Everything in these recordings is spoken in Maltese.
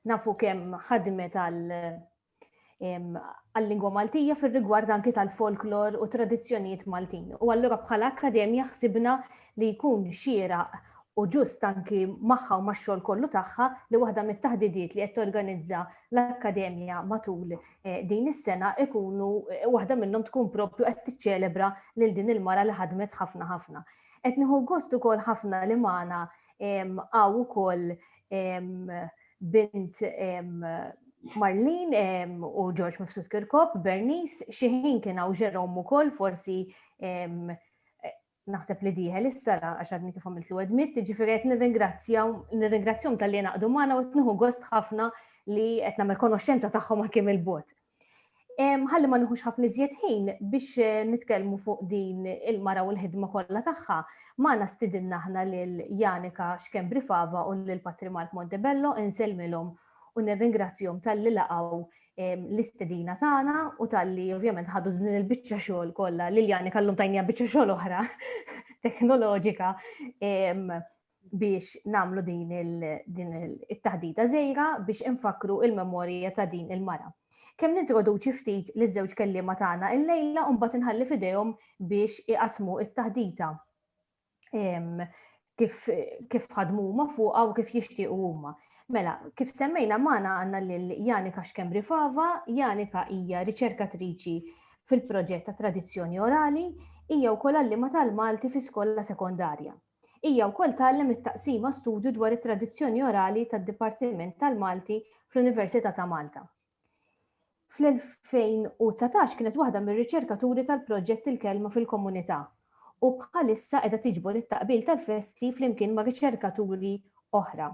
nafu kemm ħadmet għal-lingwa Maltija fil-rigward anki tal-folklor u tradizzjonijiet Maltin. U allura bħala akkademja ħsibna li jkun xira u ġust anki magħha u max-xogħol kollu tagħha li waħda mit-taħdidiet li qed torganizza l-akkademja matul din is-sena ikunu waħda minnhom tkun proprju qed tiċċelebra lil din il-mara li ħadmet ħafna ħafna. Qed nieħu gost ukoll ħafna li magħna hawn ukoll bint Marlin u George Mifsud Kirkop, Bernice, xi ħin kien hawn Jerome ukoll forsi naħseb li dieħel issa la għax għadni kif għamilt l-edmit, ġifiri għet nirringrazzjom tal-li naqdu maħna u għetnuħu gost ħafna li għet namel konoxenza taħħom għakim il-bot. Ħalli ma nħux ħafna iżjed ħin biex eh, nitkellmu fuq din il-mara u l-ħidma kollha tagħha, magħna stidinna aħna lil Janika Xkembri Fava u lil Patri Mark Montebello insellmilhom u nirringrazzjom tal-li laqgħu l-istedina tagħna u tal-li ovvjament ħadu din il-biċċa xogħol kollha Liljani kallum tajnija biċċa xogħol oħra teknoloġika biex namlu din il-taħdita żejra biex infakru il-memorija ta' din il-mara. Kemm nintroduċi ftit li żewġ kelliema tagħna il-lejla u mbagħad inħalli fidejhom biex iqasmu it-taħdita. kif kif ħadmu huma fuqha u kif jixtiequ huma. Mela, kif semmejna magħna għandna lil Janika Xkembri Fava, Janika hija riċerkatriċi fil-proġett ta' tradizzjoni orali, hija wkoll għallima tal-Malti fi skola sekondarja. Hija wkoll tgħallem it-taqsima studju dwar it-tradizzjoni orali tad-Dipartiment tal-Malti fl-Università ta' Malta. Fl-2019 kienet waħda mir-riċerkaturi tal-proġett Il-Kelma fil-Komunità u bħalissa qiegħda tiġbor it-taqbil tal-festi flimkien ma' riċerkaturi oħra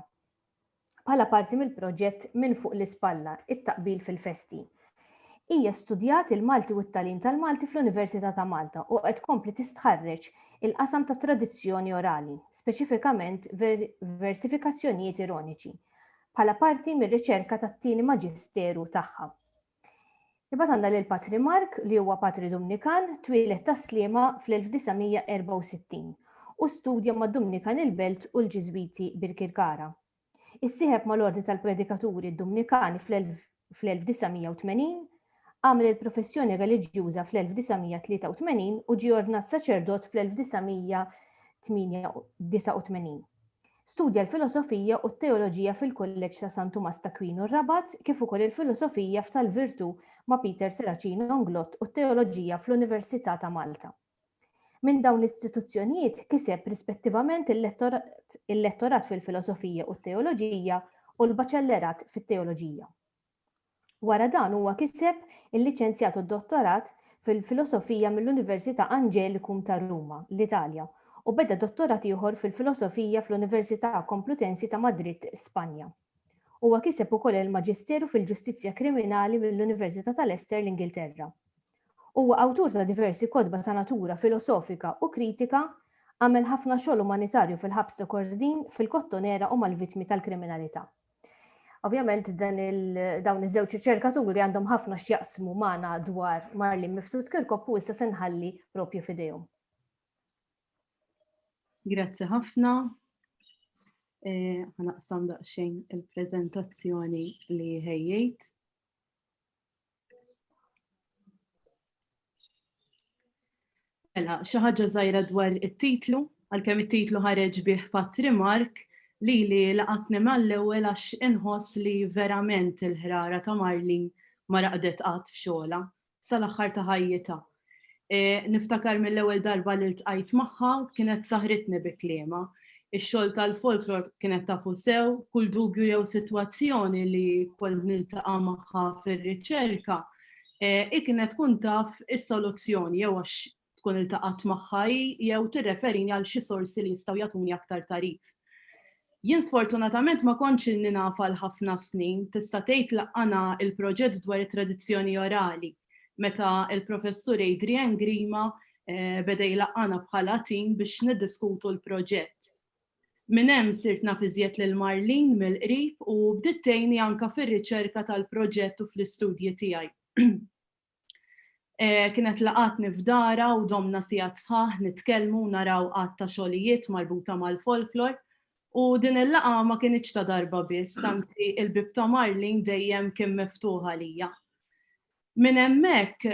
bħala parti mill-proġett Minn Fuq l-Ispalla, It-Taqbil fil-Festi. Hija studjat il-Malti u t-tagħlim tal-Malti fl-Università ta' Malta u qed tkompli tistħarreġ il-qasam tat-tradizzjoni orali, speċifikament versifikazzjonijiet ironiċi. bħala parti mir-riċerka tat-tieni maġisteru tagħha. Imbagħad għandna lil Patri Mark li huwa Patri Dumnikan, twieled tas-Sliema fl-1964 u studja mad-Dumnikan il-Belt u l-Ġiżwiti Birkirkara. Issieħeb mal-Ordni tal-Predikaturi Dumnikani fl-1980, għamel il-professjoni reliġjuża fl-1983 u ġie ordnat saċerdot fl-1989. Studja l-filosofija u t-teoloġija fil-Kulleġġ ta' San Tumas t'Akwinu Rabat kif ukoll il-filosofija f'tal-virtù ma' Peter Serracino Nglott u t-teoloġija fl-Università ta' Malta. Minn dawn l-istituzzjonijiet kiseb rispettivament il-lettorat fil-filosofija u t-teoloġija u l-baċellerat fit-teoloġija. Wara dan huwa kiseb il-liċenzjat u d-dottorat fil-filosofija mill-Università Angelikum ta' Ruma, l-Italja, u beda dottorat ieħor fil-filosofija fl-Università Komplutensi ta' Madrid, Spanja. Huwa kiseb ukoll il-Maġisteru fil-Ġustizzja Kriminali mill-Università ta' Leicester, l-Ingilterra. Huwa awtur ta' diversi kotba ta' natura filosofika u kritika, għamel ħafna xogħol umanitarju fil-Ħabs ta' Kordin, fil-Kottonera u mal-vittmi tal-kriminalità. Ovvjament dan il, dawn iż-żewġ riċerkaturi għandhom ħafna x'jaqsmu magħna dwar Marlene Mifsud Kirkop u issa se nħalli propju f'idejhom. Grazzi ħafna. Eh, ħanaqsam daqsxejn il-prezentazzjoni li ħejjejt. Mela, xi ħaġa żgħira dwar it-titlu, għalkemm it-titlu ħareġ bih patrimark li li laqatni mal-ewwel għax inħoss li verament il-ħrara ta' Marlin ma raqdet qatt f'xogħla. sal-aħħar ta' ħajjitha. Niftakar mill-ewwel darba li ltqajt magħha kienet saħritni bi kliemha. Ix-xogħol tal-folklor kienet tafu sew, kull dubju jew sitwazzjoni li kont niltaqa' magħha fir-riċerka, hi kienet tkun taf is-soluzzjoni jew għax tkun iltaqgħet magħha hi jew tirreferini għal xi sorsi li jistgħu jagħtuni aktar tagħrif. Jien sfortunatament ma kontx ilni naf għal ħafna snin, tista' tgħid laqqana il-proġett dwar it-tradizzjoni orali meta il-Professur Adrian Grima beda jlaqqana bħala tim biex niddiskutu l-proġett. Minn hemm sirt naf iżjed lil Marlene mill-qrib u bdiet tgħinni anke fir-riċerka tal-proġett u fl-istudji tiegħi. Kienet laqgħatni f'darha u domna sigħat sħaħ nitkellmu u naraw għadd ta' xogħlijiet marbuta mal-folklor. U din il-laqgħa ma kinitx ta' darba biss, anzi il-bieb ta' Marlene dejjem kien miftuħ għalija. Minn hemmhekk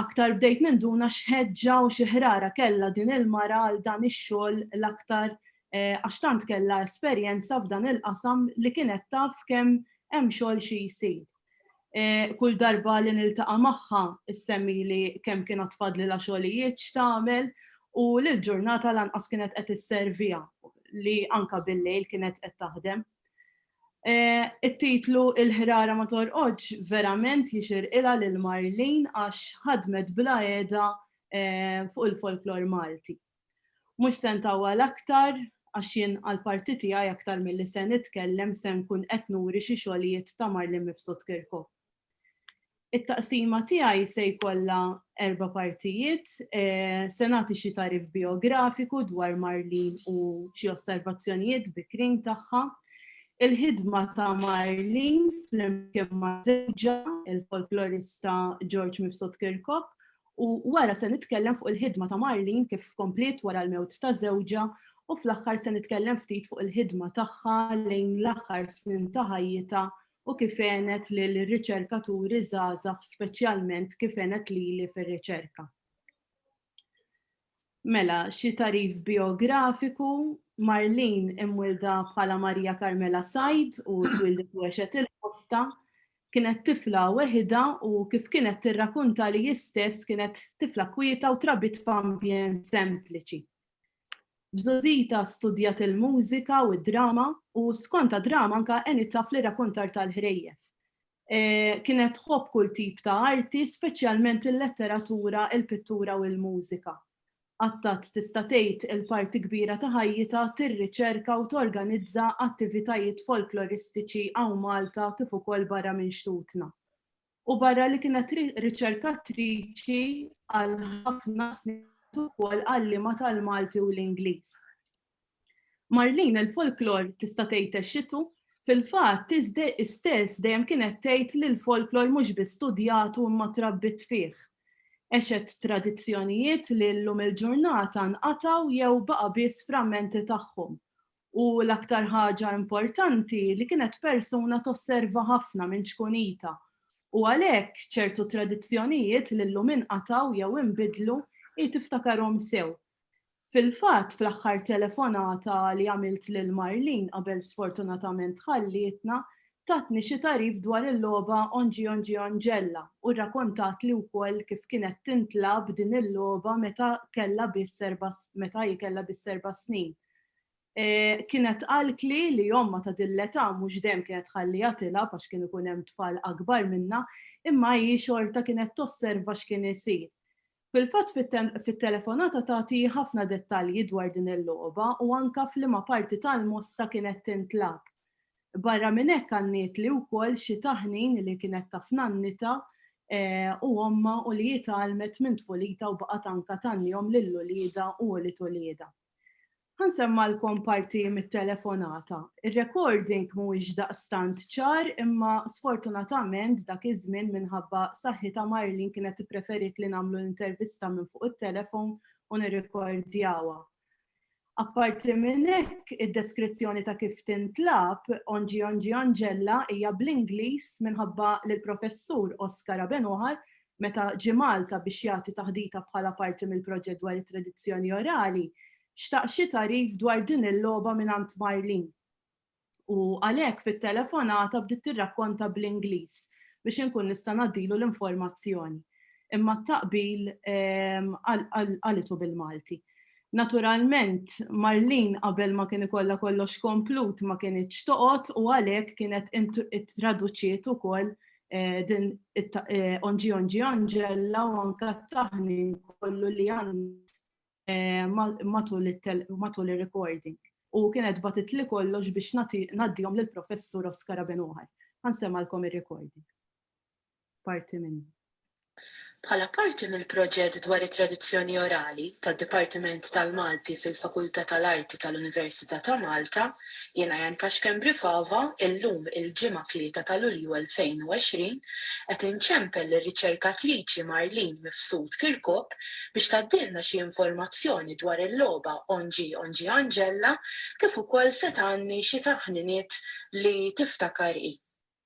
aktar bdejt ninduna x'ħeġġa u xi ħrara kellha din il-mara għal dan ix-xogħol l-aktar għax tant kellha esperjenza f'dan il-qasam li kienet taf kemm hemm xogħol xi jsir. Kull darba li niltaqa' magħha issemmili kemm kien għad fadlilha xogħlijiet x'tagħmel u li l-ġurnata lanqas kienet qed isserviha li anke bil-lejl kienet qed taħdem. It-titlu Il-ħrara ma torqodx verament jixirqilha lil Marlene għax ħadmet bla għeda fuq il-folklor Malti. Mhux se ntawwal aktar għax jien għall-parti tiegħi aktar milli se nitkellem se nkun qed nuri xi xogħlijiet ta' Marlin Mifsud Kirko. It-taqsima tiegħi se jkollha erba' partijiet, se nagħti xi tarif biografiku dwar Marlin u xi osservazzjonijiet bikrin tagħha, il-ħidma ta' Marlin flimkien ma' żewġha, il-folklorista George Mifsud Kirkop, U wara se nitkellem fuq il-ħidma ta' Marlene kif kompliet wara l-mewt ta' żewġha u fl-aħħar se nitkellem ftit fuq il-ħidma tagħha lejn l-aħħar snin ta' ħajjitha u kif għenet lil riċerkaturi żgħażagħ speċjalment kif għenet lili fir-riċerka. Mela, xi tagħrif bijografiku, Marlene imwielda bħala Maria Carmela Said u twieldet u għexet il-Mosta. Kienet tifla weħidha u kif kienet tirrakunta li hi stess kienet tifla kwieta u trabbiet f'ambjent sempliċi. B'żgħożitha studjat il-mużika u d-drama u skont għad-drama anke għenitha fl-irrakuntar tal-ħrejjef. Kienet tħobb kull tip ta' arti, speċjalment il-letteratura, il-pittura u l-mużika. Qatgħet tista' tgħid il-parti kbira ta' ħajjitha tirriċerka u torganizza attivitajiet folkloristiċi hawn Malta kif ukoll barra minn xtutna. U barra li kienet riċerkatriċi għal ħafna snin kienet ukoll għalliema tal-Malti u l-Ingliż. Marlene, il-folklor tista' tgħid għexxitu, fil-fatt hi stess dejjem kienet tgħid li l-folklor mhux biss studjatu imma trabbiet fih. Għexet tradizzjonijiet li llum il-ġurnata nqatgħu jew baqa' biss frammenti tagħhom. U l-aktar ħaġa importanti li kienet persuna tosserva ħafna minn ċkunitha u għalhekk ċertu tradizzjonijiet li llum inqatgħu jew inbidlu hi tiftakarhom sew. Fil-fatt, fl-aħħar telefonata li għamilt lil Marlene qabel sfortunatament tħallietna, tatni xi tagħrif dwar il-logħba Onjiongionjella u rrakontatli wkoll kif kienet tintlagħab din il-logħba meta kellha biss erba' meta hi kellha biss erba' snin. Kienet qaltli li ommha ta' din l-età mhux dejjem kienet tħalliha tilgħab għax kien ikun hemm tfal akbar minnha, imma hi xorta kienet tosserva x'kien isir. Fil-fatt fit-telefonata tagħti ħafna dettalji dwar din il-logħba u anke f'liema parti tal-Mosta kienet tintlagħab. Barra minn hekk għannietli wkoll xi taħnin li kienet taf nannitha u ommha u li hi tgħallmet minn tfulitha u baqgħet anke tgħannihom lil uliedha u ulied uliedha. Ħa nsemmgħilkom parti mit-telefonata. Ir-recording mhuwiex daqstant ċar imma sfortunatament dak iż-żmien minħabba saħħitha Marlene kienet ippreferiet li nagħmlu l-intervista minn fuq it-telefon u nirrikordjawha. Apparti minn hekk, id-deskrizzjoni ta' kif tintlagħab Onġi Onġi Onġella hija bl-Ingliż minħabba li l-Professur Oscar Abenuħar Meta ġie Malta biex jagħti taħdita bħala parti mill-proġett dwar it-tradizzjoni orali, xtaq xi tagħrif dwar din il-logħba mingħand Marlene. U għalhekk fit-telefonata bdiet tirrakkonta bl-Ingliż biex inkun nista' ngħaddilu l-informazzjoni. Imma t-taqbil qalitu bil-Malti. Naturalment, Marlene qabel ma kien ikollha kollox komplut ma kinitx toqgħod u għalhekk kienet ittraduċiet ukoll din onġi onġi anġella u anka t-taħnin kollu li għamilt matul ir-recording. U kienet bagħtitli kollox biex ngħaddihom lill-Professur Oscar Abenuħar. Ħa nsemgħalkom ir-recording. Parti minnu. Bħala parti mill-proġett dwar it-tradizzjoni orali tad-Dipartiment tal-Malti fil-Fakultà tal-Arti tal-Università ta' Malta, jiena Jan Kaxken Brifava, illum il-Ġimgħa 3 ta' Lulju 2020, qed inċempel lir-riċerkatriċi Marlene Mifsud Kirkop biex tgħaddilna xi informazzjoni dwar il-logħba Ongi Ongi Angella kif ukoll se tgħanni xi taħniniet li tiftakar hi.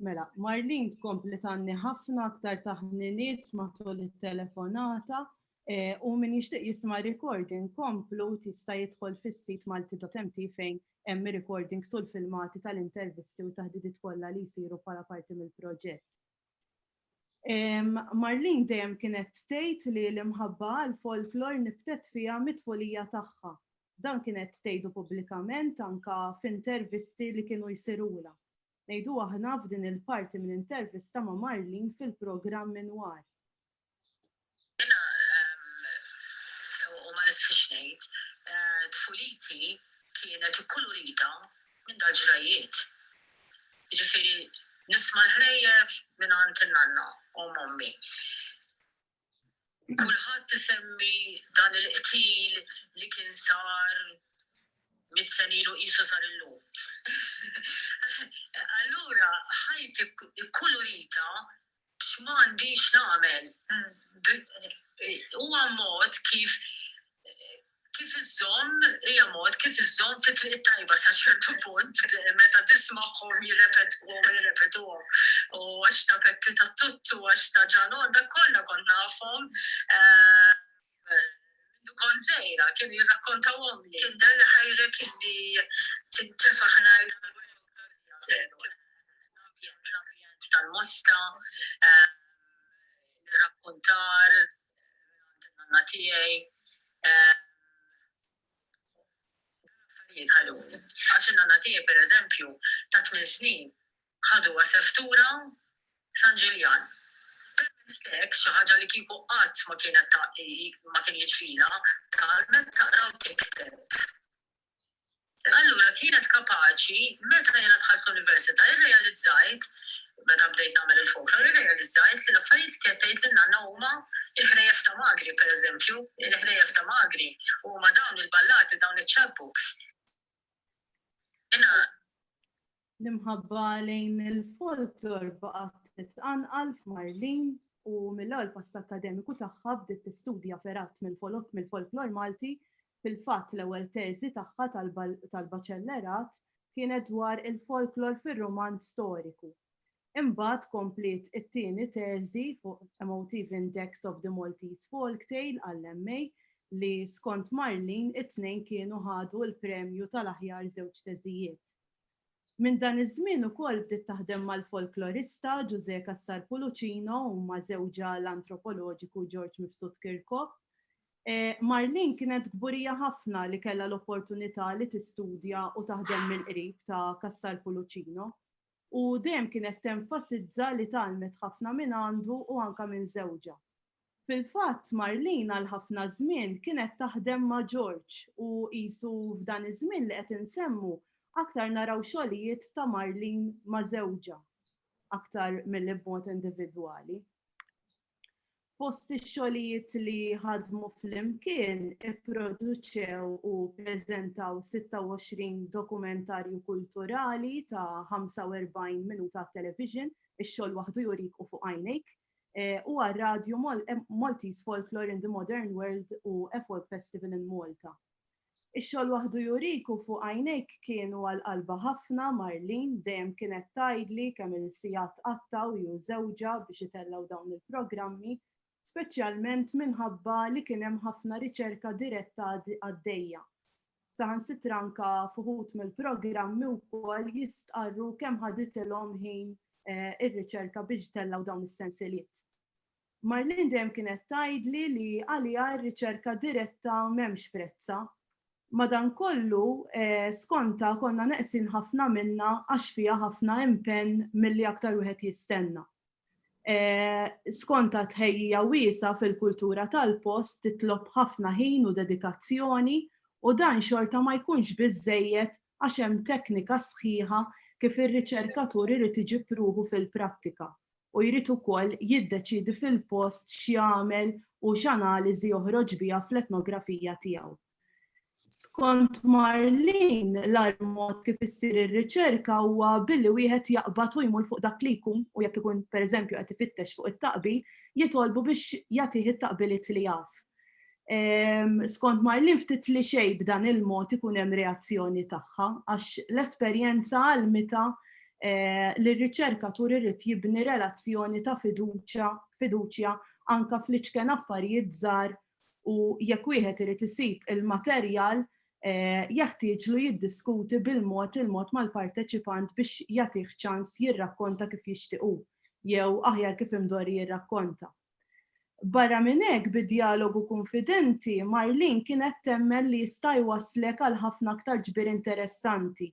Mela, Marlin tkompli tanni ħafna aktar taħniniet matul it-telefonata eh, u min jixtieq jisma' recording komplu tista' jidħol fis-sit malti.mt fejn hemm recording sul filmati tal-intervisti u taħdidiet kollha li jsiru bħala parti mill-proġett. Marlene dejjem kienet tgħid li l-imħabba għall-folklor nibtet fiha mit-tfulija tagħha. Dan kienet tgħidu pubblikament anke f'intervisti li kienu jsirulha. Ngħidu aħna f'din il-parti minn intervista ma' Marlene fil-programm Inwar. Jiena u ma nistħix ngħid, tfuliti kienet ikkulurita minn dal-ġrajjiet. Jiġifieri nisma' l-ħrejjef mingħand in-nanna u ommi. Kulħadd isemmi dan il-qtil li kien sar mitt sena ilu qisu sar illum. Allura ħajti kkulurita X'm'għandix nagħmel? Huwa mod kif kif iżżomm, hija mod kif iżżomm fi triq it-tajba sa ċertu punt meta tismagħhom jirrepetuhom u jirrepetuhom. U għax ta' Peppi Tattuttu, għax ta' Ġanò, dak kollha kont nafhom. Mindu kont żgħira, kienu jirrakkontawhomli. Kien dan li ħajrek illi tintefa' ħnajr tal-Wajokalias hekk fl-ambjent, fl-ambjent tal-mosta, l-irrakkontar mingħand in-nanna tiegħi. Dawn l-affarijiet ħaduni. Għax in-nanna tiegħi, pereżempju, ta' tmien snin Ħaduha seftura San Ġiljan. Permezz t'hekk, xi ħaġa li kieku qatt ma kienet ma kien jiġrilha, tgħallmet taqra u tikteb. Allura kienet kapaċi, meta jiena dħalt l-università irrealizzajt, meta bdejt nagħmel il-folklor, irrealizzajt li l-affarijiet kienet tgħid lil nanna huma il-ħrejjef ta' magri, pereżempju, il-ħrejjef ta' magri, huma dawn il-ballati, dawn iċ-chapbooks. Jiena L-imħabba lejn il-folklor baqgħet titqanqal f'Marlin u mill-ewwel pass akkademiku tagħha bdiet tistudja fergħat mill-folklor Malti, fil-fatt l-ewwel teżi tagħha tal-baċellerat kienet dwar il-folklor fir-rumanz storiku. Imbagħad kompliet it-tieni teżi fuq A Motive Index of the Maltese Folktale għall-MA li skont Marlin it-tnejn kienu ħadu l-premju tal-aħjar żewġ teżijiet. Minn dan iż-żmien ukoll bdiet taħdem mal-folklorista Ġużè Cassar Pulucino u ma' żewġha l-antropoloġiku George Mifsud Kirkop. Marlene kienet kburija ħafna li kellha l-opportunità li tistudja u taħdem mill-qrib ta' Cassar Pulucino u dejjem kienet tenfasizza li tgħallmet ħafna minn għandu u anke minn żewġha. Fil-fatt, Marlene għal ħafna żmien kienet taħdem ma' George u qisu f'dan iż-żmien li qed insemmu aktar naraw xogħlijiet ta' Marlene ma' żewġha aktar milli b'mod individwali. Fost ix-xogħlijiet li ħadmu flimkien ipproduċew u ppreżentaw 26 dokumentarju kulturali ta' 45 minuta għat-television, Ix-xogħol waħdu jurik u fuq għajnejk, eh, u għal-radju eh, Maltese Folklore in the Modern World u A Folk Festival in Malta. Ix-xogħol waħdu juriku fuq għajnejk kienu għal qalba ħafna Marlin dejjem kienet tajdli kemm il-sijat qattaw ju żewġa biex itellaw dawn il-programmi, speċjalment minħabba li kien hemm ħafna riċerka diretta għaddejja. saħansitra anka fuħut mill-programmi wkoll jistqarru kemm ħaditilhom ħin eh, ir-riċerka biex tellaw dawn is-sensiliet. Marlin dejjem kienet tgħidli li għaliha r-riċerka diretta m'hemmx prezza. Madankollu, eh, skonta konna neqsin ħafna minna għax fiha ħafna impenn milli aktar wieħed jistenna. Skont tħejjija wiesa' fil-kultura tal-post titlob ħafna ħin u dedikazzjoni u dan xorta ma jkunx biżżejjed għax hemm teknika sħiħa kif ir-riċerkatur irid iġib ruħu fil-prattika u jrid ukoll jiddeċiedi fil-post x'jagħmel u x'analiżi joħroġ biha fl-etnografija tiegħu. Skont Marlene, l-agħar mod kif issir ir-riċerka huwa billi wieħed jaqbad u jmur fuq dak li jkun u jekk ikun pereżempju qed ifittex fuq it-taqbil, jitolbu biex jagħtih it-taqbiliet li jaf. Skont Marlene ftit li xejn b'dan il-mod ikun hemm reazzjoni tagħha għax l-esperjenza għallmitha li r-riċerkatur irid jibni relazzjoni ta' fiduċja anke fl-iċken affarijiet żgħar u jekk wieħed irid isib il-materjal jeħtieġlu jiddiskuti bil-mod il-mod mal-parteċipant biex jagħtih ċans jirrakkonta kif jixtieq hu, jew aħjar kif imdorri jirrakkonta. Barra minn hekk, bi djalogu kunfidenti, Marlene kienet temmen li jista' jwasslek għal ħafna aktar ġbir interessanti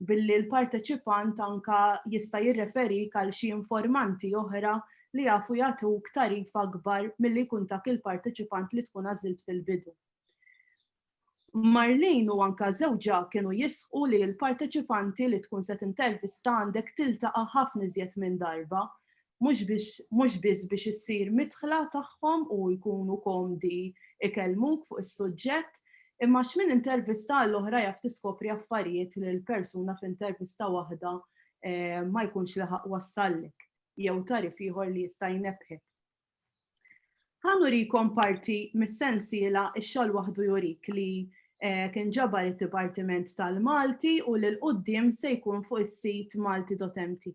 billi l-parteċipant anke jista' jirreferik għal xi informanti oħra li jafu jagħtuk tagħrif akbar milli jkun tak il-parteċipant li tkun għażilt fil-bidu. Marlene u anke żewġha kienu jisħqu li l-parteċipanti li tkun se tintervista għandek tiltaqa' ħafna iżjed minn darba mhux biss biex issir midħla tagħhom u jkunu komdi ikellmuk fuq is-suġġett, imma għax minn intervista għall-oħra jaf tiskopri affarijiet li l-persuna f'intervista waħda ma jkunx laħaq wassallek jew tarif ieħor li jista' jnebbħek. Ħan urikom parti mis-sensiela x-xogħol waħdu jurik li kien ġabar it-Dipartiment tal-Malti u l-qoddim se jkun fuq is-sit malti.mt.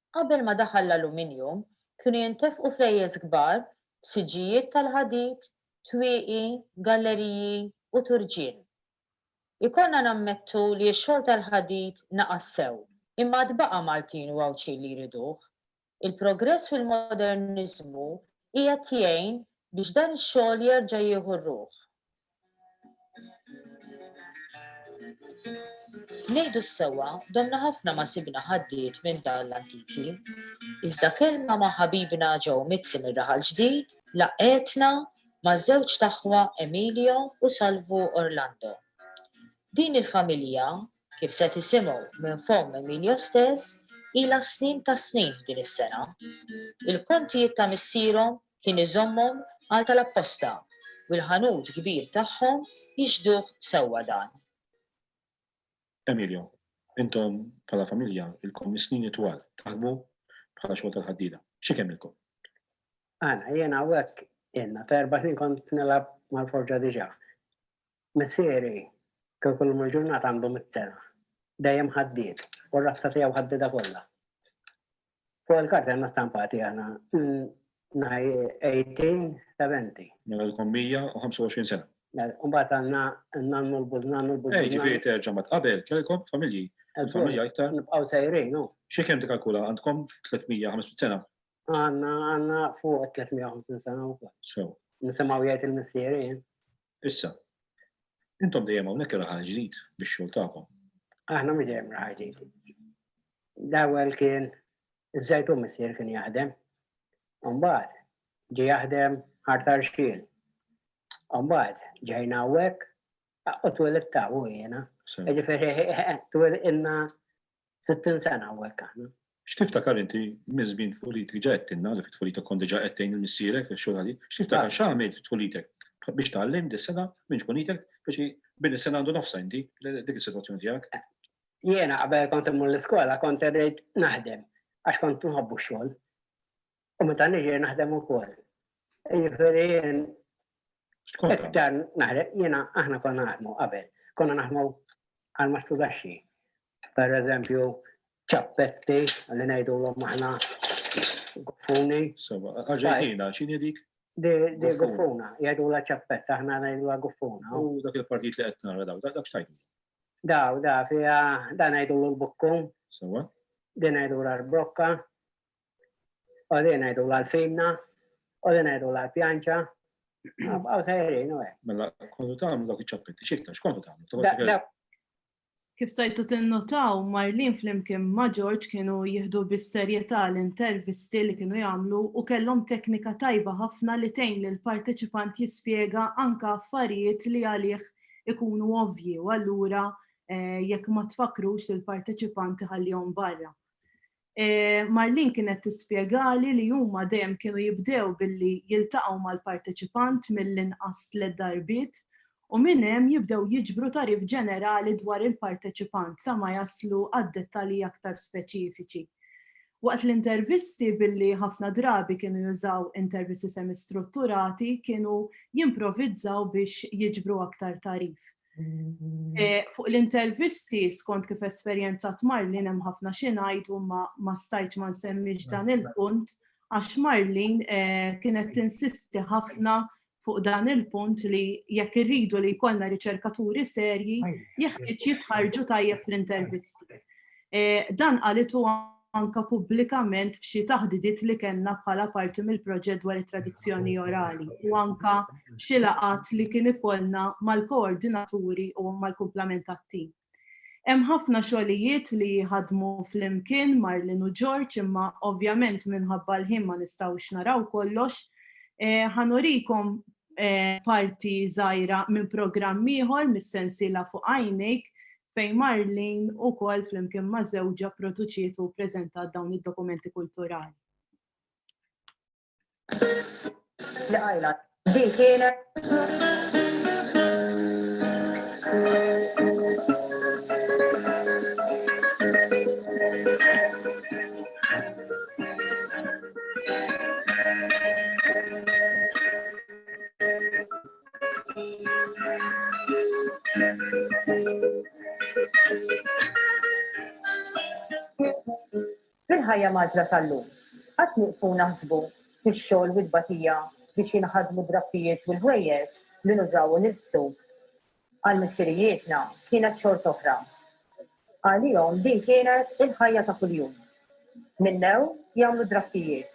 Qabel ma daħal l-aluminjum, kienu jintefqu flejjes kbar f'siġġijiet tal-ħadid, twieqi, galleriji u turġien. Ikollna nammettu li x-xogħol tal-ħadid naqas sew, imma għad baqa' Maltin u Għawdxin li jriduh. Il-progress u l-moderniżmu qiegħed jgħin biex dan ix-xogħol jerġa' jieħu r-ruħ. Nejdu s-sewa, domna ħafna ma sibna ħaddiet minn dan l-antiki. Iżda kelma ma ħabibna ġew mitzi minn raħal ġdid, laqetna ma żewġ taħwa Emilio u Salvu Orlando. Din il-familja, kif se tisimgħu minn fom Emilio stess, ila snin ta' snin f'din is-sena. Il-kontijiet ta' missierhom kien iżommhom għal tal-apposta u l-ħanut kbir tagħhom jixhduh sewwa dan. Emilio, Intom bħala familja ilkom mis-snin itwal taħdmu bħala xogħol tal-ħaddieda. Xi kemmilkom? Ana, jiena hawnhekk jenna ta' erba' snin kont nilgħab mal-forġa diġà. Missieri kien kull il-ġurnata għandu mit-sena. Dejjem ħaddied u r-rabta tiegħu ħaddida kollha. Fuq il-karta għanna stampati għanna naj 18 ta' 20. Mela l-kom 125 sena. Mela, Umbat għanna nannu l-buz, nannu l-buz. Ej, ġifiri terġa ma tqabel, kelkom familji, familja iktar. Nibqaw sejrin, no? Xie kem tikalkula għandkom 350 sena? Għanna, għanna fuq 350 sena u kol. So. Nisimaw jgħajt il-missierin. Issa, intom dejjem hawnhekk raħal ġdid bix-xogħol tagħkom. Aħna mi dejjem raħal ġdid. L-ewwel kien iż-żejtu missier kien jaħdem. Mbagħad ġi jaħdem ħartar xkiel. Mbagħad ġejna hawnhekk u twelid ta' u jiena. Ġifieri twelidna 60 sena u hekk aħna. X'tiftakar inti minn żmien tfulitek? Diġà għedtilna li fit-tfulita kont diġà qed tgħin lil missierek fix-xogħol ħadid. X'tiftakar x'għamilt fit-tfulitek biex tgħallimt dis-sena minn tfulitek biex bini s-sena għandu nofsha inti dik is-sitwazzjoni tiegħek? Jiena qabel kont immur l-iskola kont irrid naħdem għax kont nħobbu x-xogħol. u meta niġi naħdem ukoll. Jiġifieri iktar naħdem jiena aħna konna naħdmu qabel, konna naħdmu għal ma studaxxi. Per eżempju, ċappetti li ngħidu l aħna guffuni. Arġentina, x'inhi dik? Di guffuna, jgħidu la ċappetta, aħna ngħidu la guffuna. U dak il-partit li qed nara daw, dak x'tajdu? Daw, da, fija, da ngħidu l-bukkum. Sewa? Din ngħidu l-arbokka. Għodin ngħidu l-fimna, għodin ngħidu l-pjanċa, għaw sejrin u għek. Mela, kontu tagħmlu dak iċ-ċappetti, xiktar, xkontu tagħmlu? Kif stajtu tinnotaw, Marlin flimkien ma' George kienu jihdu bis-serjetà l-intervisti li kienu jagħmlu u kellhom teknika tajba ħafna li tgħin lil parteċipant jispjega anke affarijiet li għalih ikunu ovvji u allura eh, jekk ma tfakrux il-parteċipanti ħallihom barra. Marlene kienet tispjegali li huma dejjem kienu jibdew billi jiltaqgħu mal-parteċipant mill-inqas tliet darbiet u minn hemm jibdew jiġbru tagħrif ġenerali dwar il-parteċipant sa ma jaslu għad-dettalji aktar speċifiċi. Waqt l-intervisti billi ħafna drabi kienu jużaw intervisti semistrutturati kienu jimprovizzaw biex jiġbru aktar tagħrif. Eh, fuq l-intervisti, skont kif esperjenza Marlin hemm ħafna xi ngħid u ma stajtx ma nsemmix dan il-punt, għax Marlin eh, kienet tinsisti ħafna fuq dan il-punt li jekk irridu li jkollna riċerkaturi serji, jeħtieġ jitħarġu tajjeb fl-intervisti. Eh, dan qalitu anke pubblikament f'xi taħdidiet li kellna bħala parti mill-proġett dwar it-tradizzjoni orali u anke f'xi laqgħat li kien ikollna mal-koordinaturi u mal-kumplament tat-tim. Hemm ħafna xogħlijiet li jħaddmu flimkien Marlin u George imma ovvjament minħabba l-ħin ma nistgħux naraw kollox. Eh, ħanurikom eh, parti żgħira minn programm ieħor mis-sensiela fuq għajnejk fejn Marlene ukoll flimkien ma' żewġha pproduċiet u ppreżentat dawn id-dokumenti kulturali. Fil-ħajja mgħaġġla tal-lum, qatt nieqfu naħsbu fix-xogħol u t-tbatija biex jinħadmu d-drappijiet u l-ħwejjeġ li nużaw u nilbsu? Għal missirijietna kienet xort'oħra. Għalihom din kienet il-ħajja ta' kuljum. Minnew jagħmlu d-drakkijiet.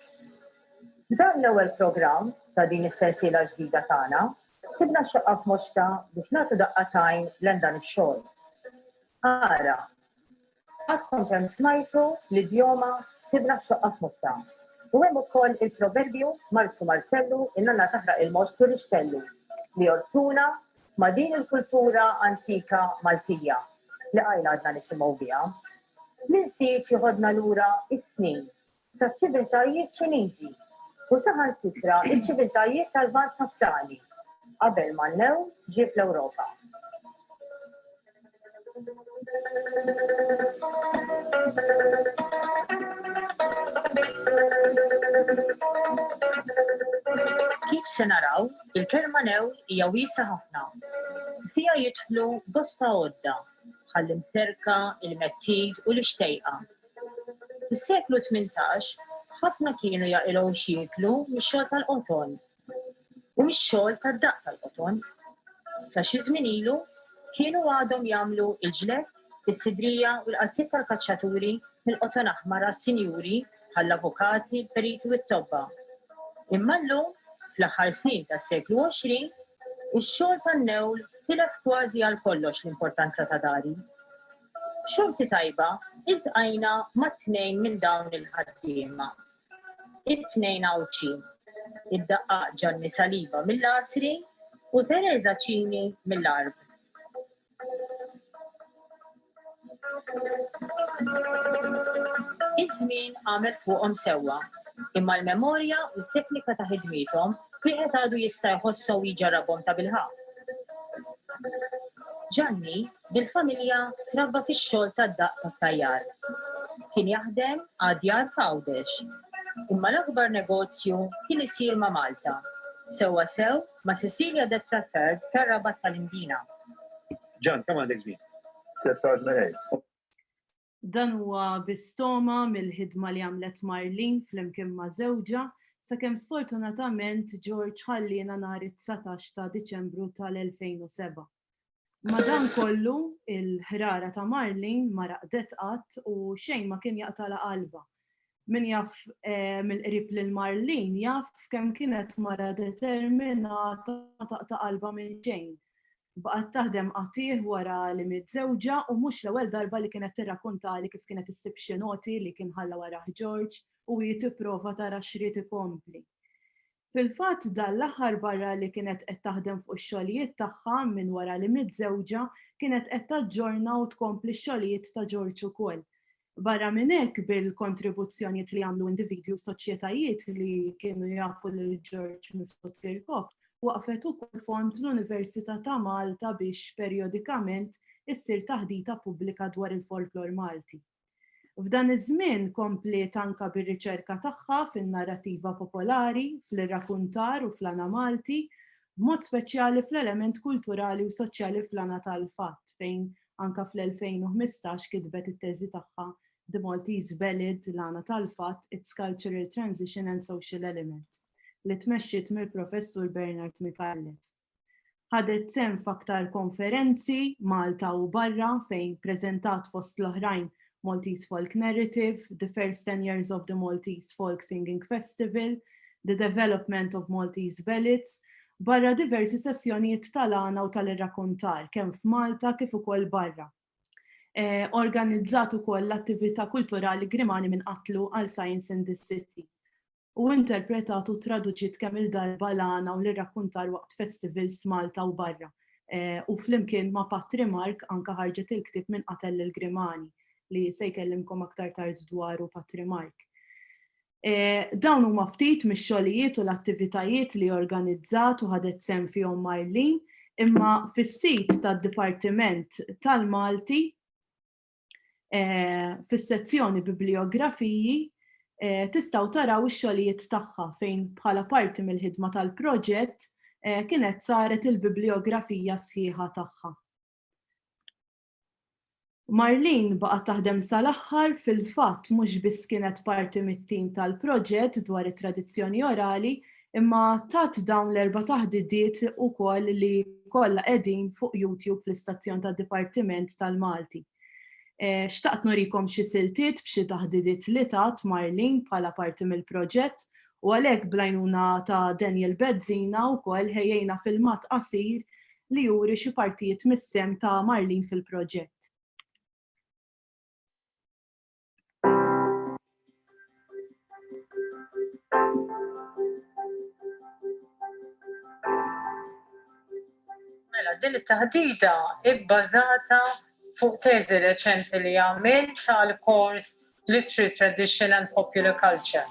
F'dan l-ewwel programm ta' din is-sensiela ġdida tagħna, sibna xaqqa f'Mosta biex nagħtu daqqa t'għajn lejn dan ix-xogħol. Ara. Għadkom kemm smajtu l-idjoma sibna x-xaqqa f'Mosta. U hemm ukoll il-proverbju Marzu Marzellu in-nanna taħraq il-most u rixxellu li jolqtuna ma' din il-kultura antika Maltija li qajl għadna nisimgħu biha. L-insieġ jeħodna lura s-snin taċ-ċiviltajiet Ċiniżi u saħansitra ċ-ċiviltajiet tal-Lvant Nofsani qabel ma n-new ġie fl-Ewropa. Kif se naraw, il-kelma new hija wiesgħa ħafna. Fiha jidħlu bosta għodda, bħall-imterka, il-mettit u l-ixtejqa. Fis-seklu tmintax, ħafna kienu jaqilgħu x'jieklu mix-xogħol tal-qoton. u mix-xogħol tad-daqq tal-qoton. Sa xi żmien ilu kienu għadhom jagħmlu l-ġled, is-sidrija u l-qalziet tal-kaċċaturi mill-qoton aħmar għas-sinjuri bħall-avukati, il-periti u t-tobba. Imma llum, fl-aħħar snin tas-seklu 20, ix-xogħol tan-newl tilef kważi għal kollox l-importanza ta' dari. Xorti tajba, iltqajna ma' tnejn minn dawn il-ħaddiema It-tnejn Għawdxin, id-daqqaq Ġanni Saliba mill-Għasri u Tereża Cini mill-Għarb. Iż-żmien għamel fuqhom sewwa, imma l-memorja u t-teknika ta' ħidmiethom wieħed għadu jista' jħosshom u jġarrabhom tabilħaqq. Ġanni Bil-familja trabba fix-xogħol tad-daqq tat-tajjar. Kien jaħdem għad-djar f'Għawdex. Imma l-akbar negozju kien isir ma' Malta, sewwa sew ma' Cecilia de Traffert tar-Rabat tal-Imdina. Ġan, kemm għandek żmien? Tliet xahar żmerejr. Dan huwa bi stoma mill-ħidma li għamlet Marlene flimkien ma' żewġha, sakemm sfortunatament George ħalliena nhar it-dsatax ta' Diċembru tal-2007. Madankollu, il-ħrara ta' Marlene ma raqdet qatt u xejn ma kien jaqtagħlha qalbha. Min jaf mill-qrib lil Marlene jaf kemm kienet mara determinata ma taqta' qalbha minn xejn. Baqgħet taħdem qatigħ wara li miet żewġha u mhux l-ewwel darba li kienet tirrakkuntali kif kienet issib xi noti li kien ħalla warajh George u hi tipprova tara x'ried ikompli. Fil-fatt, dan l-aħħar barra li kienet qed taħdem fuq ix-xogħlijiet tagħha minn wara li miet żewġha, kienet qed taġġorna u tkompli x-xogħlijiet ta' George ukoll. Barra minn hekk bil-kontribuzzjonijiet li għamlu individwi u soċjetajiet li kienu jafu lil George Mifsud Kirkop, waqfet ukoll fond l-Università ta' Malta biex perjodikament issir taħdita pubblika dwar il-folklor Malti. F'dan iż-żmien kompliet anke bir-riċerka tagħha fin-narrattiva popolari, fl-irrakuntar u fl-għana Malti, b'mod speċjali fl-element kulturali u soċjali fl-għana tal-fatt fejn Anke fl-2015 kitbet it-teżi tagħha The Maltese Ballad, L-Għana tal-Fatt, Its Cultural Transition and Social Element, li tmexxiet mill-Professur Bernard Micallef. Ħadet sehem f'aktar konferenzi Malta u barra fejn preżentat fost l-oħrajn Maltese Folk Narrative, The First Ten Years of the Maltese Folk Singing Festival, The Development of Maltese Ballads, barra diversi sessjonijiet tal-għana u tal-irrakuntar kemm f'Malta kif ukoll barra. Eh, organizzat ukoll l-attività kulturali Grimani minn qatlu għal Science in the City Hu interpretat u traduċiet kemm-il darba l-għana u l-irrakkuntar waqt festivals f'Malta u barra, u flimkien ma' Patri Mark anke ħarġet il-ktieb Min Qatel Lil Grimani, li se jkellimkom aktar tard dwaru Patri Mark. Dawn huma ftit mix-xogħlijiet u l-attivitajiet li organizzat u ħadet sehem fihom Marlene, imma fis-sit tad-Dipartiment tal-Malti, eh, fis-sezzjoni Bibliografiji eh, tistgħu taraw ix-xogħlijiet tagħha fejn bħala parti mill-ħidma tal-proġett eh, kienet saret il-bibliografija sħiħa tagħha. Marlin baqgħet taħdem sal-aħħar fil-fatt mhux biss kienet parti mit-tim tal-proġett dwar it-tradizzjoni orali, imma tat dawn l-erba' taħdidiet ukoll li kollha qegħdin fuq YouTube fl-istazzjon tad-Dipartiment tal-Malti. Xtaqt nurikom xi siltiet b'xi taħdidiet li tat Marlene bħala parti mill-proġett u għalhekk bl-għajnuna ta' Daniel Bezzina wkoll ħejjejna filmat qasir li juri xi partijiet mis-sehem ta' Marlene fil-proġett. Mela, din it-taħdida ibbażata fuq teżi reċenti li għamil tal-kors Literary Tradition and Popular Culture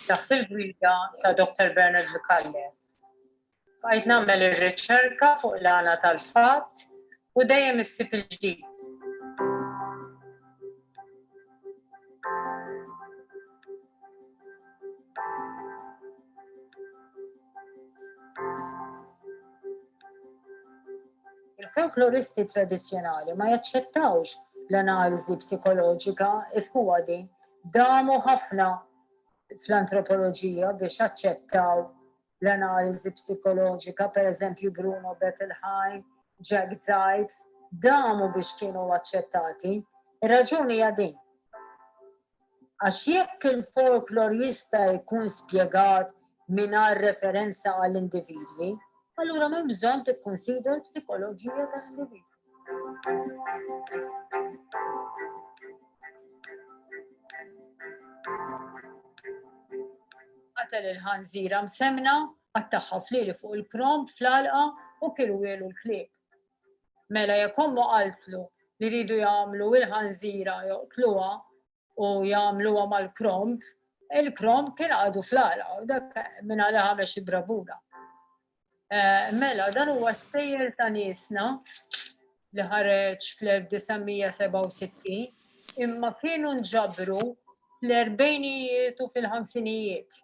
taħt il-gwida ta' Dr. Bernard Lucalle. Għajt nagħmel ir-riċerka fuq l-għana tal-fatt u dejjem issib il-ġdid. Il-folkloristi tradizjonali ma jaċċettawx l-analiżi psikoloġika ifkuwa din damu ħafna fl-antropoloġija biex aċċettaw l-analiżi psikoloġika, pereżempju Bruno Bettelheim, Jack Zipes, damu biex kienu aċċettati. Ir-raġuni hija din. Għax jekk il-folklor jista' jkun spjegat mingħajr referenza għall-individwi, allura m'hemm bżonn tikkunsidra l-psikoloġija tal-individwi. Qatel il-ħanżira msemna, għattaħħa flili fuq il-krom fl-alqa u kienu jelu l-klieb. Mela jekk ommu qaltlu li ridu jagħmlu il-ħanżira joqtluha, u jagħmluha mal-kromb, il-kromb kien għadu fl-għala, u dak minn għala ħamex idrabuna. Eh, mela, dan huwa sejjer ta' nisna li ħareġ fl-1967, imma kienu nġabru fl-erbejnijiet u fil-ħamsinijiet.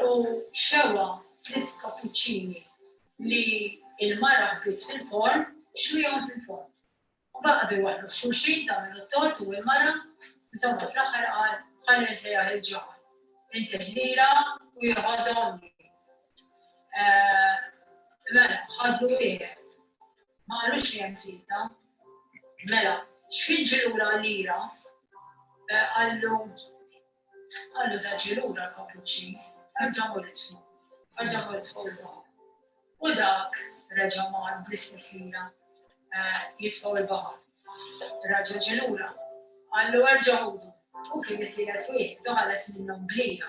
U xewwa fritt kapuċċini li l-mara ħbiet fil-forn, xwihom fil-forn. U baqa' bejn waħdu f'xulxin tagħmel it-tort u l-mara, insomma fl-aħħar qal ħalli nsejjaħ il-ġaħal. Intih lira u jieħodhom li. Mela, ħaddu wieħed. Ma qalux li hemm tlieta. Mela, x'jiġri lura lira qallu Qallu daġġi lura l-kappuċċin, Arġa' ħu l-itflu. Arġa' ħu l-itflu l-baħar. U dak reġa' mar bl-istess mira jitfgħu l-baħar. Raġel ġie lura, qallu erġa' ħudu. U kien it-tielet wieħed u ħares minnhom b'lira.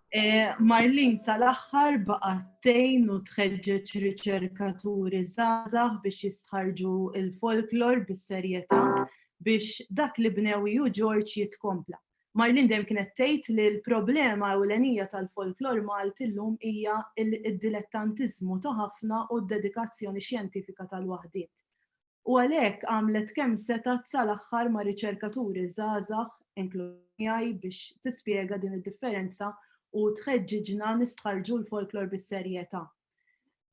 Marlene sal-aħħar baqgħet tgħin u tħeġġeġ riċerkaturi żgħażagħ biex jistħarrġu l-folklor bis-serjetà biex dak li bnew hi u George jitkompla. Marlene dejjem kienet tgħid li l-problema ewlenija tal-folklor Malti llum hija d-dilettantiżmu ta' ħafna u d-dedikazzjoni xjentifika tal-waħdiet. u għalhekk għamlet kemm setgħet sal-aħħar ma' riċerkaturi żgħażagħ, inkluż miegħi, biex tispjega din id-differenza u tħeġġiġna nistħarrġu l-folklor bis-serjetà.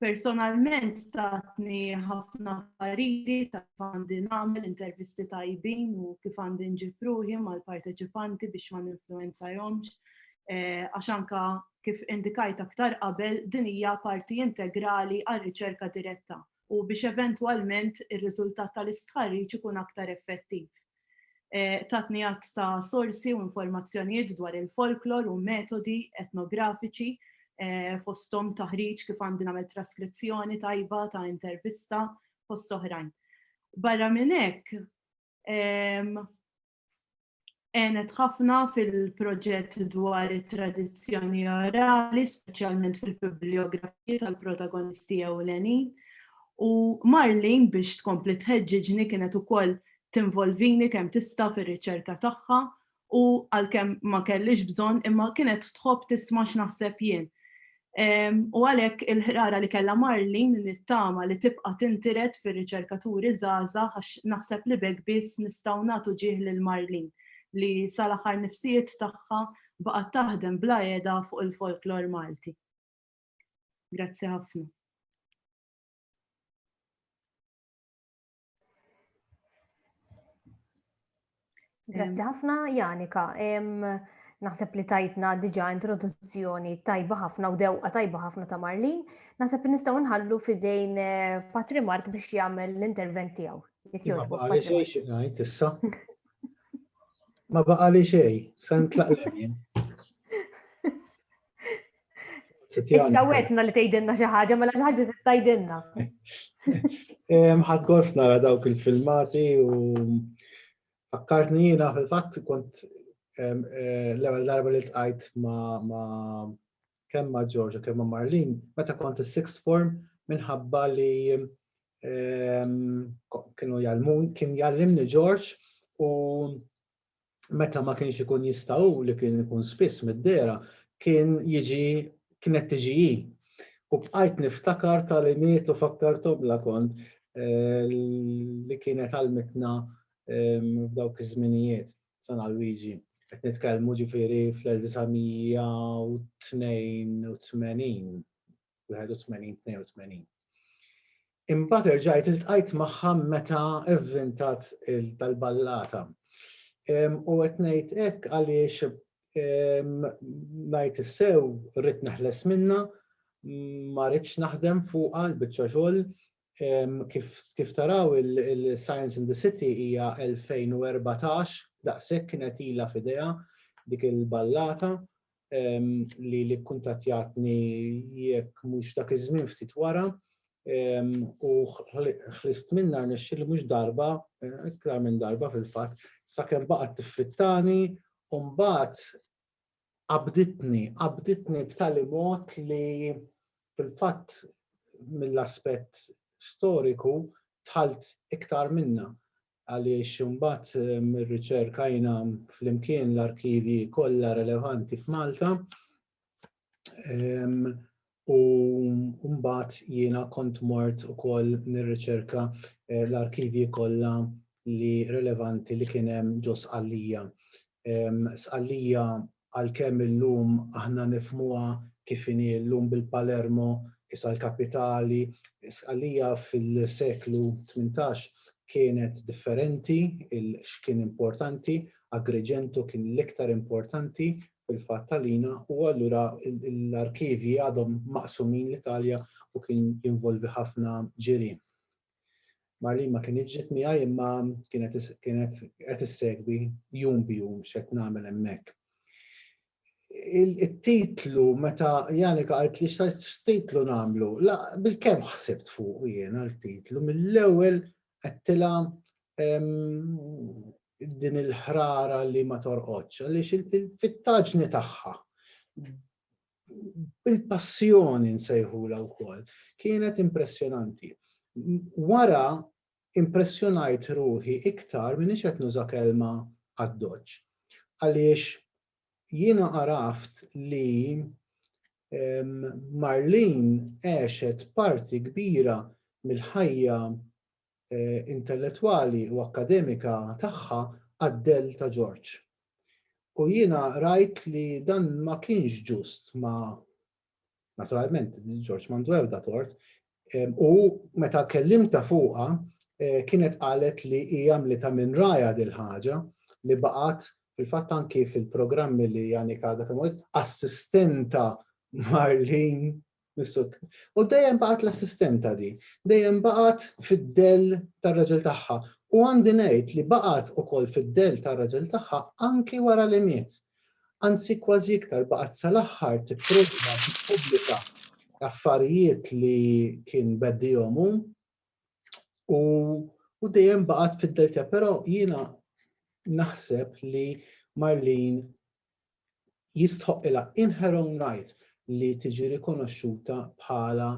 Personalment tatni ħafna pariri ta' kif għandi nagħmel intervisti tajbin u kif għandi nġib ruħi mal-parteċipanti biex ma ninfluwenzahomx eh, għax anka kif indikajt aktar qabel din hija parti integrali għar-riċerka diretta u biex eventwalment ir-riżultat tal-istħarriġ ikun aktar effettiv. Tatni għadd ta' sorsi u informazzjonijiet dwar il-folklor u metodi etnografiċi fosthom taħriġ kif għandi nagħmel traskrizzjoni tajba ta' intervista fost oħrajn. Barra minn hekk, għenet ħafna fil-proġett dwar it-tradizzjoni orali, speċjalment fil-bibliografija tal-protagonisti ewlenin. U Marlin biex tkompli tħeġġiġni kienet ukoll tinvolvini kemm tista' fir-riċerka tagħha u għalkemm ma kellix bżonn imma kienet tħobb tisma' x'naħseb jien. U għalhekk il-ħrara li kellha Marlin nittama li tibqa' tintiret fir-riċerkaturi żgħażagħ għax naħseb li b'hekk biss nistgħu nagħtu ġieħ lil Marlin li sal-aħħar nifsijiet tagħha baqgħet taħdem bla qiegħda fuq il-folklor Malti. Grazzi ħafna. Grazzi ħafna, Janika. Naħseb li tajtna diġa introduzzjoni tajba ħafna u dewqa tajba ħafna ta' Marlin. Naħseb li nistgħu nħallu fidejn eh, Patri Mark biex jagħmel l-intervent tiegħu. Ma baqa li xej xi ngħid issa. Ma baqa li xej, se nitlaq Issa wetna li tgħidilna xi ħaġa, mela xi ħaġa tgħidilna. Ħadd gost nara dawk il-filmati u fakkartni jiena fil-fatt kont eh, l-ewwel darba li tqajt ma' kemm ma' Ġorġa kemm ma' Marlin, meta kont is-sixth form minħabba li kienu jalmun, kien jallimni Ġorġ u meta ma kienx ikun jista' hu li kien ikun spiss mid-dehra kien jiġi kienet tiġi hi. U bqajt niftakar tagħlimiet u fakkartomlha kont li kienet għallmitna f'dawk iż-żminijiet. Sena Luigi, qed nitkellmu ġifieri fl-1982, 81, 82. Imbagħad erġajt iltqajt magħha meta vvintat il-tal-ballata. U qed ngħid hekk għaliex ngħid is-sew rrid neħles minnha, ma ridx naħdem fuqha l-biċċa xogħol. Kif taraw il-Science in the City hija 2014, daqshekk kienet ilha f'idejha dik il-ballata. li li kuntatjatni jekk mhux dak iż-żmien ftit wara u ħlist minna nexxi li mhux darba, iktar minn darba fil-fatt, sakemm baqgħet tiffittani u mbagħad qabditni, qabditni b'tali mod li fil-fatt mill-aspett storiku tħalt iktar minna. għaliex imbagħad irriċerkajna flimkien l-arkivji kollha relevanti f'Malta u mbagħad jiena kont mort ukoll nirriċerka eh, l-arkivji kollha li relevanti li kien hemm ġo Sqallija. Sqallija għalkemm illum aħna nifhmuha kif inhi llum bil-Palermo isha l-kapitali, Sqallija fil-seklu tmintax kienet differenti il x'kien importanti, Agrigento kien l-iktar importanti fil-fatt għalina u allura l-arkivji għadhom maqsumin l-Italja u kien jinvolvi ħafna ġirien. Marlene ma kinitx ġiet miegħi imma kienet kienet qed issegwi jum b'jum x'qed nagħmel hemmhekk. Il-titlu meta Janika qalt li x'titlu nagħmlu, la bil-kemm ħsibt fuq jiena l-titlu mill-ewwel għedtilha din il-ħrara li ma torqodx, għaliex il-fittaġni tagħha il-passjoni nsejħulha wkoll, kienet impressjonanti. Wara impressjonajt ruħi iktar m'iniex qed nuża kelma addoċċ. Għaliex jiena għaraft li Marlene għexet parti kbira mill-ħajja intellettwali u akkademika tagħha għad-dell ta' George. U jiena rajt li dan ma kienx ġust ma' naturalment George m'għandu ebda tort, u meta kellimta fuqha kienet qalet li hija għamlitha minn rajha dil-ħaġa li baqgħet fil-fatt anki fil-programmi li Janik għadha kemm assistenta Marlene Missuk. U dejjem baqgħet l-assistenta di, dejjem baqgħet fid-dell tar-raġel tagħha, u għandi ngħid li baqgħet ukoll fid-dell tar-raġel tagħha anki wara li miet. Anzi kważi iktar, baqgħet sal-aħħar tipprova tippubblika affarijiet li kien beddihom hu u u dejjem baqgħet fid-dell tiegħha, però jiena naħseb li Marlene jistħoqqilha in her own right li tiġi rikonoxxuta bħala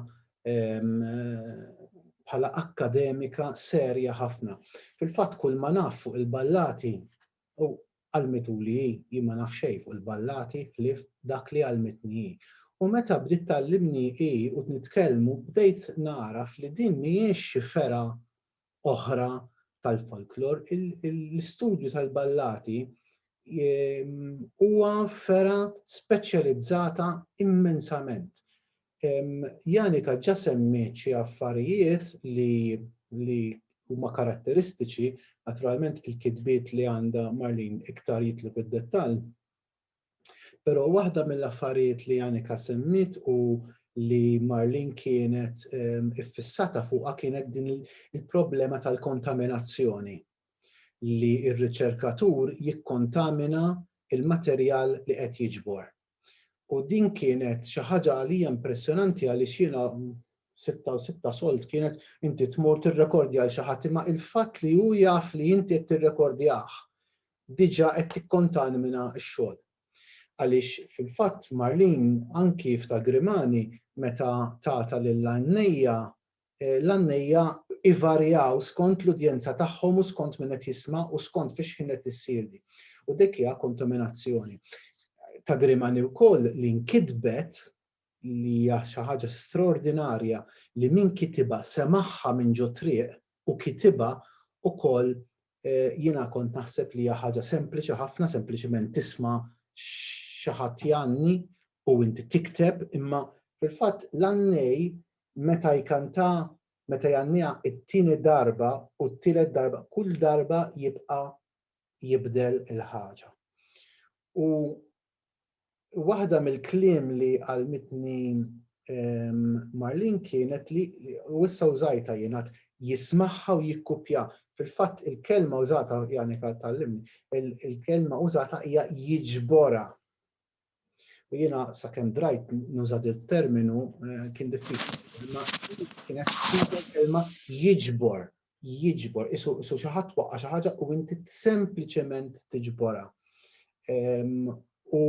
bħala akkademika serja ħafna. Fil-fatt kull ma naf fuq il-ballati u għalmituli hi, jien ma naf xejn fuq il-ballati ħlief dak li għalmitni hi. U meta bdiet tgħallimni hi u nitkellmu bdejt nagħraf li din mhijiex xi fergħa oħra tal-folklor, l-istudju tal-ballati huwa fera speċjalizzata immensament. Janika ġa semmiet xi affarijiet li huma karatteristiċi, naturalment il-kitbiet li għandha Marlene iktar jitlu fid-dettall, Però waħda mill-affarijiet li Annika semmiet u li Marlene kienet iffissata fuqha kienet din il-problema tal-kontaminazzjoni li r-riċerkatur jikkontamina l-materjal li qed jiġbor. U din kienet xi ħaġa għalija impressjonanti għaliex jiena sitta u sitta solt kienet inti tmur tirrekordja għal xi ħadd imma il-fatt li hu jaf li inti qed tirrekordjah diġà qed tikkontanmina x-xogħol. Għaliex fil-fatt Marlene anki f'Ta' Grimani meta tagħtha lill-għannejja, l-għannejja ivarjaw skont l-udjenza tagħhom u skont min qed jisma' u skont fi xħin qed issir din. U dik hija kontaminazzjoni. Ta' Grimani wkoll li nkitbet li hija xi ħaġa straordinarja li min kitibha semagħha minn ġo triq u kitibha ukoll jiena kont naħseb li hija ħaġa sempliċi ħafna sempliċiment tisma' xi ħadd jgħanni u inti tikteb imma fil-fatt l-għannej meta jkantha meta jgħanniha t-tieni darba u t-tielet darba kull darba jibqa' jibdel il-ħaġa. U waħda mill-kliem li għalmitni ehm, Marlin kienet li u issa użajta jenat jismaħħa u jikkupja. Fil-fatt il-kelma użata, jani tal-limni, il-kelma użata hija jiġbora. U jiena sakemm drajt nuża il-terminu eh, kien diffiċli. Imma kienet kelma jiġbor, jiġbor, isu isu xi ħadd waqqa' xi ħaġa u inti sempliċement tiġborha. Ehm, u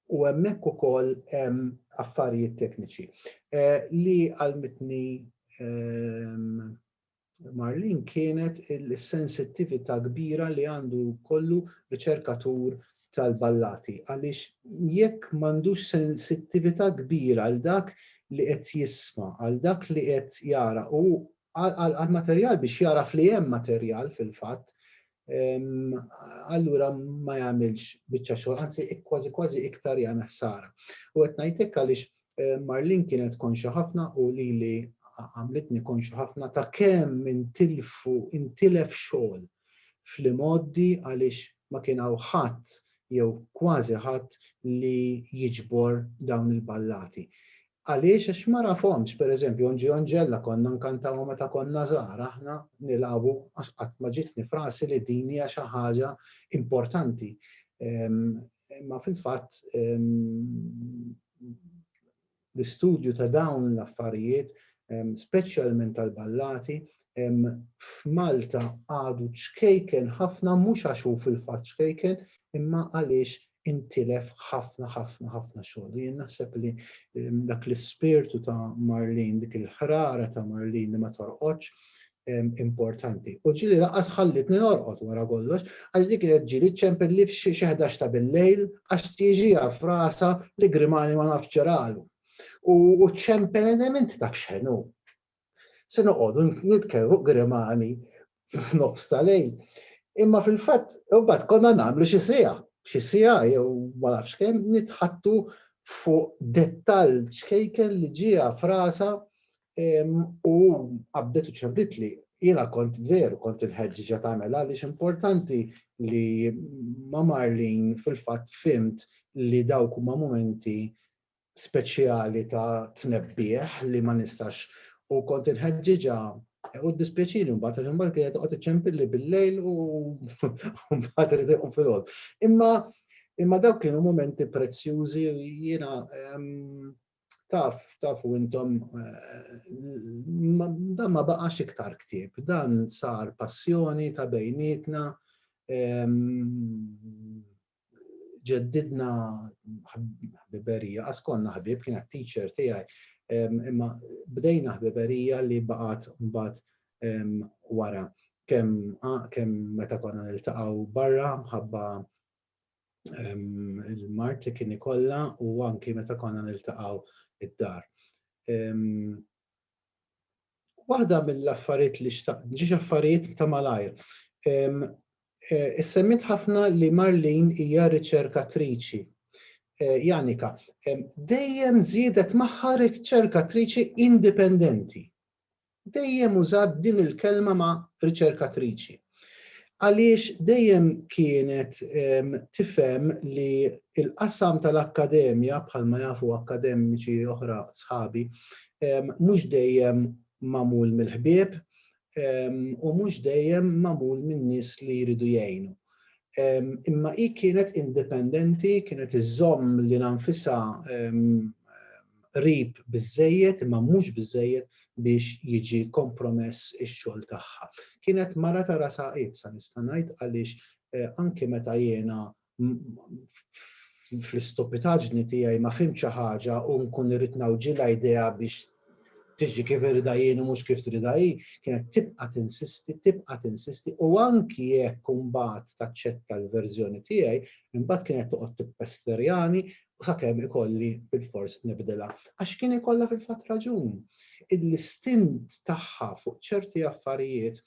u hemmhekk ukoll hemm affarijiet tekniċi eh, li għalmitni ehm, Marlene kienet is-sensittività kbira li għandu jkollu riċerkatur tal-ballati għaliex jekk m'għandux sensittività kbira għal dak li qed jisma', għal dak li qed jara u għall-materjal biex jagħraf li hemm materjal fil-fatt, allura ma jagħmilx biċċa xogħol, anzi kważi kważi iktar jagħmel ħsara. U qed ngħid hekk għaliex eh, Marlin kienet konxa ħafna u li li għamlitni konxa ħafna ta' kemm intilfu intilef xogħol fl-imoddi għaliex ma kien hawn ħadd jew kważi ħadd li jiġbor dawn il-ballati. Għaliex? Għax ma nafhomx. Per eżempju, Onġi Onġella konna nkantawha meta konna żgħar aħna nilgħabu għax qatt ma ġietni f'rasi li din hija xi ħaġa importanti. Imma fil-fatt l-istudju ta' dawn l-affarijiet, speċjalment tal-ballati, hemm f'Malta għadu ċkejken ħafna mhux għax hu fil-fatt ċkejken imma għaliex intilef ħafna ħafna ħafna xogħol. U jien naħseb li dak l-ispirtu ta' Marlene, dik il-ħrara ta' Marlene li ma torqodx, importanti. U ġili laqas ħallitni norqod wara kollox, għax dik kienet ġili ċempilli f'xi ħdax ta' bil-lejl għax tiġiha f'rasa li Grimani ma nafx ġralu. U ċempel element taf x'ħenu. se noqogħdu nitkellmu fuq grimani f'nofs ta' lejl. Imma fil-fatt, imbagħad konna nagħmlu xi siegħa, xi siegħa jew ma nafx kemm nitħattu fuq dettall ċkejken li ġieha frasa u qabdet u ċempitli. Jiena kont veru kont il-ħeġġiġa tagħmel għaliex importanti li ma' Marlin fil-fatt fimt li dawk huma mumenti speċjali ta' tnebbiħ li ma nistax u kont inħeġġiġha u ddispjaċini mbagħad għax imbagħad kienet toqgħod iċċempilli bil-lejl u mbagħad irid iqum filgħod. Imma imma dawk kienu momenti prezzjużi jiena ehm, taf, taf u intom, eh, dan ma baqax iktar ktib, dan sar passjoni ta' bejnietna, ehm, ġeddidna ħbiberija, qas konna ħbieb, kienet teacher tiegħi, imma bdejna ħbiberija li baqgħet mbagħad wara kemm kemm meta konna niltaqgħu barra ħabba il-mart li kien ikollha u anki meta konna niltaqgħu id-dar. Waħda mill-affarijiet li xtaqt, ġiex affarijiet ta' malajr. Eh, Issemmit ħafna li Marlin hija riċerkatriċi. Eh, Janika, dejjem żiedet magħha riċerkatriċi indipendenti. Dejjem użat din il-kelma ma' riċerkatriċi. Għaliex dejjem kienet tifhem li l-qasam tal-akkademja, bħalma jafu akkademiċi oħra sħabi, mhux dejjem magħmul mill-ħbieb u mhux dejjem magħmul minn nies li jridu jgħinu. Imma hi kienet indipendenti, kienet iżżomm lilha nfisha qrib biżżejjed imma mhux biżżejjed biex jiġi kompromess ix-xogħol tagħha. Kienet mara ta' rasha iebsa nista' ngħid għaliex anki meta jiena fl-istupitaġni tiegħi ma fhimt xi ħaġa u nkun irrid nawġilha idea biex tiġi kif irida jien u mhux kif trida hi, kienet tibqa' tinsisti, tibqa' tinsisti u anki jekk imbagħad taċċetta l-verżjoni tiegħi, imbagħad kienet toqgħod tippesterjani sakemm ikolli bilfors nibdilha. Għax kien ikollha fil-fatt raġun. L-istint tagħha fuq ċerti affarijiet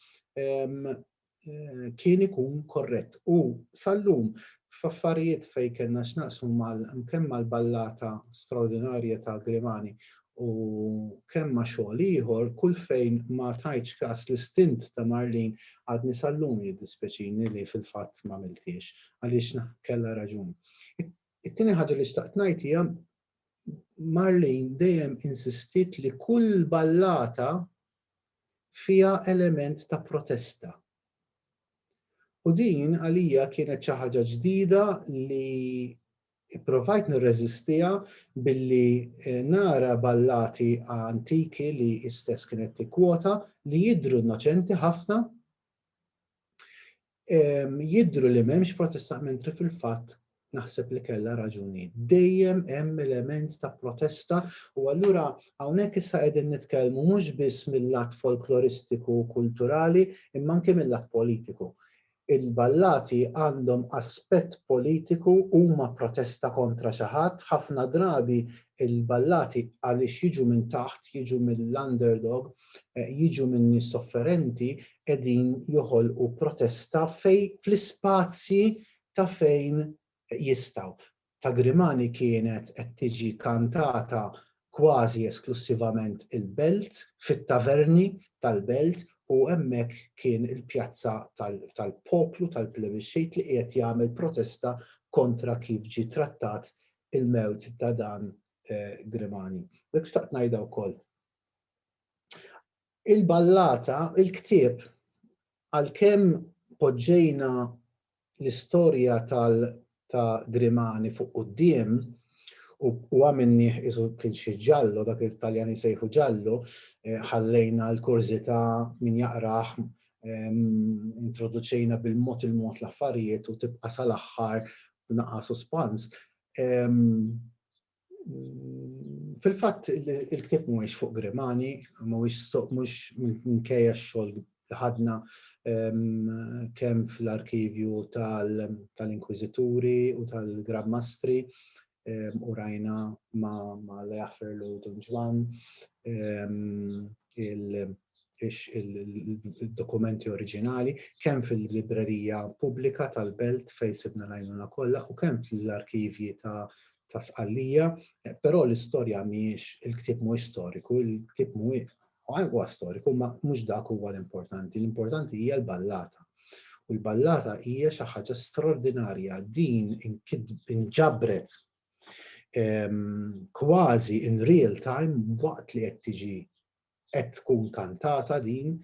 kien ikun korrett u sal-lum f'affarijiet fejn kellna x'naqsmu kemm mal-ballata straordinarja ta' Grimani u kemm ma' xogħol ieħor, kull fejn ma tajtx kas l-istint ta' Marlene għadni sal-lum jiddispjaċini li fil-fatt m'għamilthiex għaliex kellha raġun. It-tieni ħaġa li xtaqt ngħid hija Marlene dejjem insistiet li kull ballata fiha element ta' protesta. U din għalija kienet xi ħaġa ġdida li ipprovajt nirreżistiha billi eh, nara ballati antiki li istess kienet tikkwota li jidru innoċenti ħafna Jidhru li m'hemmx protesta mentri fil-fatt naħseb li kellha raġun hi. Dejjem hemm element ta' protesta u allura hawnhekk issa qegħdin nitkellmu mhux biss mil-lat folkloristiku u kulturali imma anke mil-lat politiku. Il-ballati għandhom aspett politiku, huma protesta kontra xi ħadd, ħafna drabi l-ballati għaliex jiġu minn taħt, jiġu mill-underdog, jiġu min-nies sofferenti, qegħdin joħolqu protesta fejn fl-ispazji ta' fejn jistgħu. Ta' Grimani kienet qed tiġi kantata kważi esklussivament il-Belt, fit-taverni tal-Belt u hemmhekk kien il-pjazza tal-poplu, tal-plebixxit li qiegħed jagħmel protesta kontra kif ġie trattat il-mewt ta' dan Grimani. Dak xtaqt ngħidha wkoll. Il-ballata, il-ktieb, għalkemm poġġejna l-istorja tal ta' Grimani fuq quddiem u u għamilnieh qisu kien xi ġallo, dak li t-Taljani jsejħu ġallo, ħallejna l-kurżità min jaqrah, introduċejna bil-mod il-mod l-affarijiet u tibqa' sal-aħħar b'naqgħa suspans, Fil-fatt il-ktieb mhuwiex fuq Grimani, mhuwiex stoq mhux minkejja x-xogħol li ħadna ehm, kemm fl-arkivju tal-inkwiżituri u tal-Grand Mastri ehm, u rajna ma' Leafer Lodon Ġwan ehm, il-dokumenti oriġinali kemm fil-librerija pubblika tal-belt fejn sibna l-għajnuna kollha u kemm fl-arkivji ta' ta' sqallija, eh, però l-istorja mhijiex il-ktieb mhuwiex storiku, il-ktieb mhuwiex huwa storiku, ma mhux dak huwa l-importanti, l-importanti hija l-ballata. U l-ballata hija xi ħaġa straordinarja din inġabret ehm, kważi in real time waqt li qed tiġi qed tkun kantata din,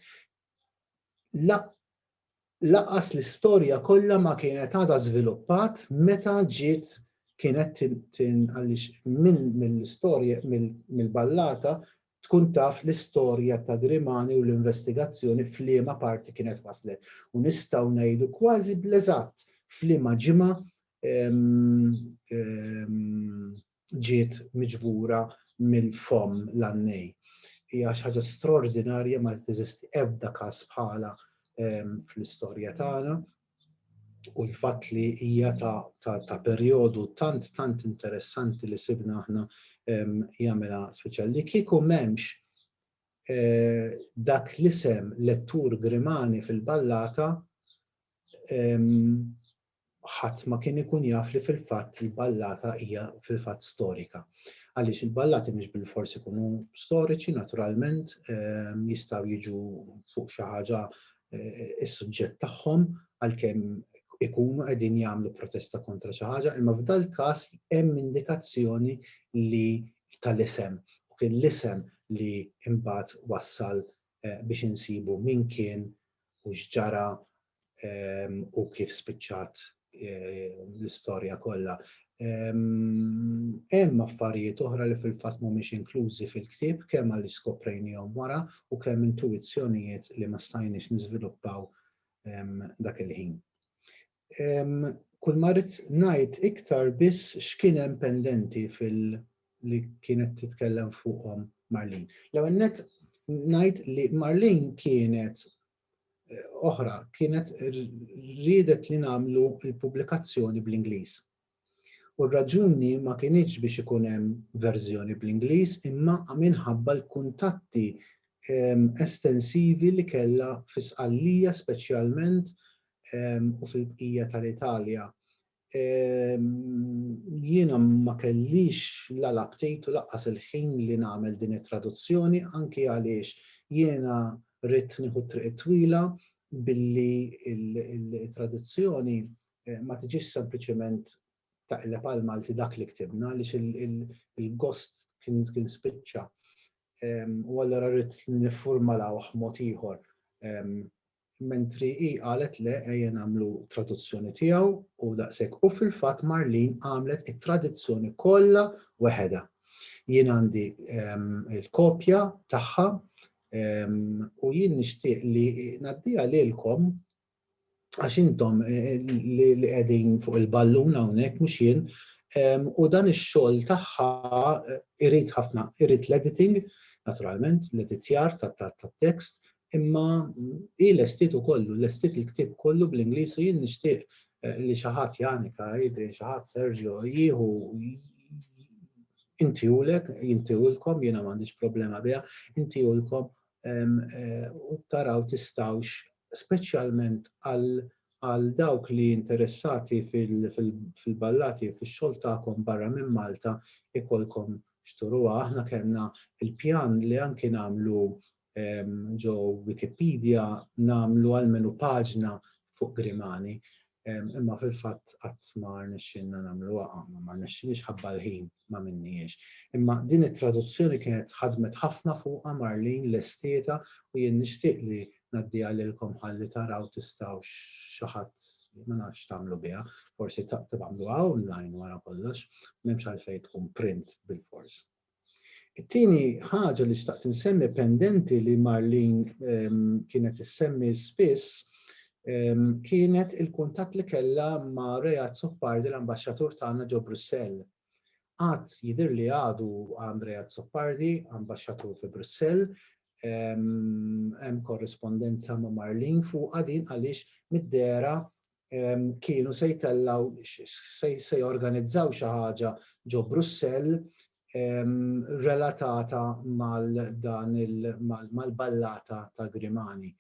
lanqas l-istorja kollha ma kienet għadha żviluppat meta ġiet kienet għaliex minn mill-istorja mill-ballata tkun taf l-istorja ta' Grimani u l-investigazzjoni f'liema parti kienet waslet. U nistgħu ngħidu kważi bl-eżatt f'liema ġimgħa ġiet miġbura mill-fomm l-għannej. Hija xi ħaġa straordinarja ma teżisti ebda każ bħalha fl-istorja tagħna u l-fatt li hija ta' perjodu tant tant interessanti li sibna aħna jagħmilha speċjal li kieku m'hemmx eh, dak l-isem lettur Grimani fil-ballata ħadd ma kien ikun jaf li fil-fatt il-ballata hija fil-fatt storika. Għaliex il-ballati mhux bilfors ikunu storiċi, naturalment, ehm, jistgħu jiġu fuq xi ħaġa eh, is-suġġett tagħhom għalkemm ikunu qegħdin jagħmlu protesta kontra xi ħaġa, imma f'dal każ hemm indikazzjoni li tal-isem u kien l-isem li imbagħad wassal biex insibu min kien u x'ġara u kif spiċċat l-istorja kollha. Hemm affarijiet oħra li fil-fatt mhumiex inklużi fil-ktieb kemm għaliex skoprejnihom wara u kemm intuwizzjonijiet li ma stajniex niżviluppaw dak il-ħin. kull ma rrid ngħid iktar biss x'kien hemm pendenti fil li kienet titkellem fuqhom Marlin. L-ewwel net ngħid li Marlin kienet eh, oħra kienet riedet li nagħmlu l-pubblikazzjoni bl-Ingliż. U r-raġuni ma kinitx biex ikun hemm verżjoni bl-Ingliż imma minħabba l-kuntatti estensivi li kellha fi Sqallija speċjalment u fil-bqija tal-Italja. Jiena ma kellix la l-aptit u lanqas il-ħin li nagħmel din it-traduzzjoni anki għaliex jiena ridt nieħu t-triq it-twila billi t-tradizzjoni ma tiġix sempliċement taqleb għal Malti dak li ktibna għaliex il-gost kien spiċċa. U allura rrid niffurmalawh mod ieħor. Mentri hi qalet le ejja nagħmlu traduzzjoni tiegħu u daqshekk u fil-fatt Marlin għamlet it-tradizzjoni kollha weħedha. Jien għandi il-kopja tagħha u jien nixtieq li ngħaddiha lilkom għax intom li qegħdin fuq il-ballun hawnhekk mhux jien, u dan ix-xogħol tagħha irid ħafna, irid l-editing, naturalment, l-editjar tat-tekst, imma hi lestiet ukoll, lestiet il-ktieb kollu bl-Ingliż u jien nixtieq li xi ħadd Janika, Adrian, xi ħadd Sergio, jieħu inti ulek, inti ulkom, jiena m'għandix problema biha, inti ulkom u taraw tistawx speċjalment għal dawk li interessati fil-ballati u fix-xogħol tagħkom barra minn Malta jkollkom x'turuha. Aħna kellna l-pjan li anki nagħmlu ġo Wikipedia nagħmlu almenu paġna fuq Grimani. Imma fil-fatt qatt ma rnexxielna nagħmluha għamma, ma rnexxilix ħabba l-ħin ma minnihiex. Imma din it-traduzzjoni kienet ħadmet ħafna fuqha Marlene lestietha u jien nixtieq li ngħaddiha lilkom ħalli taraw tistgħux xi ħadd ma nafx x'tagħmlu biha, forsi tagħmluha online wara kollox, m'hemmx għalfejn tkun print bilfors. It-tieni ħaġa li xtaqt insemmi pendenti li Marlene ehm, kienet issemmi spiss ehm, kienet il-kuntatt li kellha ma' Reat Soppardi l-ambaxxatur tagħna ġo Brussell. Qatt jidhir li għadu għand Reat Soppardi, ambaxxatur fi Brussell, ehm, hemm korrispondenza ma' Marlene fuq din għaliex mid-dera kienu se jtellgħu se jorganizzaw xi ħaġa ġo Brussell relatata mal dan mal-ballata ta' Grimani.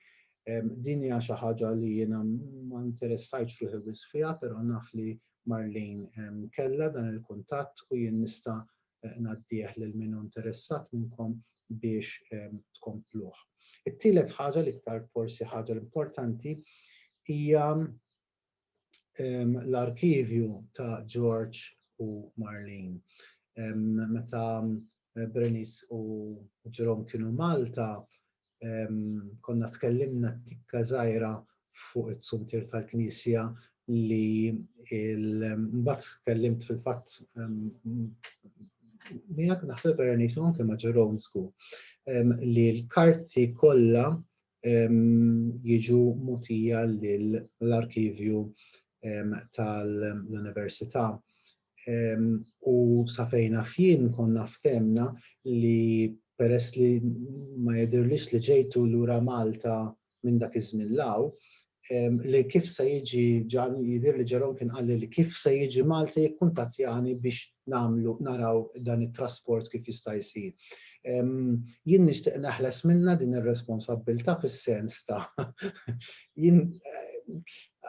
Din hija xi ħaġa li jiena ma interessajtx ruħi wis fiha, però naf li Marlene kellha dan il-kuntatt u jien nista' ngħaddih lil min hu interessat minnkom biex tkompluh. It-tielet ħaġa l-iktar forsi ħaġa l-importanti hija l-arkivju ta' George u Marlene. Meta Bernice u Jerome kienu Malta, konna tkellimna tikka żgħira fuq it-sumtir tal-Knisja li mbagħad tkellimt fil-fatt miegħek naħseb Ernix anke ma' Ġeronsku li l-karti kollha jiġu mutija lill-arkivju tal-Università. u sa fejn naf jien konna ftemna li peress li ma jidhirlix li ġejtu lura Malta minn dak iż-żmien 'l hawn, li kif se jiġi jidhir li Jerome kien qalli li kif se jiġi Malta jikkuntattjani biex nagħmlu naraw dan it-trasport kif jista' jsir. Jien nixtieq neħles minnha din ir-responsabbiltà fis-sens ta' jien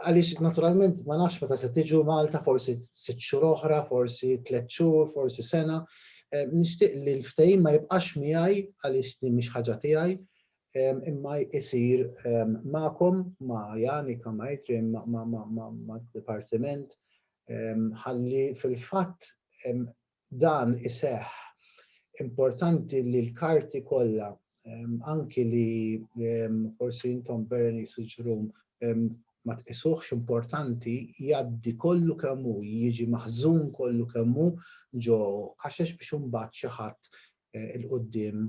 Għaliex naturalment ma nafx meta se tiġu Malta, forsi sitt xhur oħra, forsi tliet xhur, forsi sena. Nixtieq li l-ftehim ma jibqax miegħi għaliex din mhix ħaġa tiegħi, imma jsir magħkom, ma' Janika, ma' Adrian, mad-dipartiment, ħalli fil-fatt dan iseħħ, importanti li l-karti kollha, anki li forsi intom Berenice u Jerome ma tqisuhx importanti, jgħaddi kollu kemm hu, jiġi maħżun kollu kemm hu ġo kaxex biex imbagħad xi ħadd 'il quddiem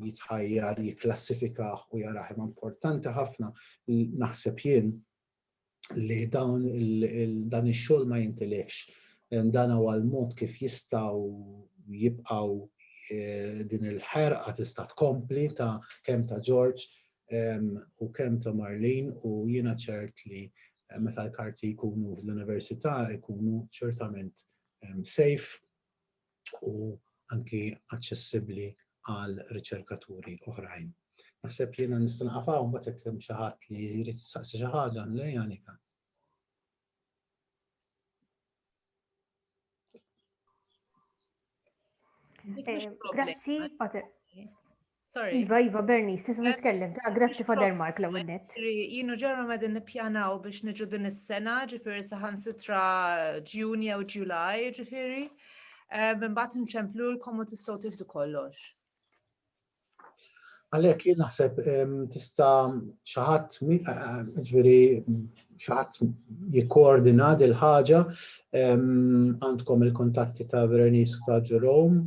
jitħajjar jikklassifikah u jarah. Imma importanti ħafna, naħseb jien, li dawn dan ix-xogħol ma jintilifx. Dan huwa l-mod kif jistgħu jibqgħu eh, din il-ħerqa tista' tkompli ta' kemm ta' George u kemm ta' Marlin u jiena ċert li eh, meta l-karti jkunu fl-università jkunu ċertament safe u anki aċċessibbli għal riċerkaturi oħrajn. Naħseb jiena nista' naqaf hawn mbagħad jekk hemm xi ħadd li jrid jistaqsi xi ħaġa lejn Janika. Eh, grazzi, Sorry. Iva, Iva, Bernice, tista' titkellem. Ta' grazzi Father Mark l net. Jinu ġarru madin nippjanaw biex niġu din is-sena, ġifiri saħan sitra ġjun jew ġulaj, ġifiri. Eh, Mbatt nċemplu l-komu tistaw tiħdu kollox. Għalek, jien naħseb tista xaħat, eh, eh, ġviri, xaħat jikkoordina il ħaġa għandkom il-kontatti ta' Veronique ta' Ġurom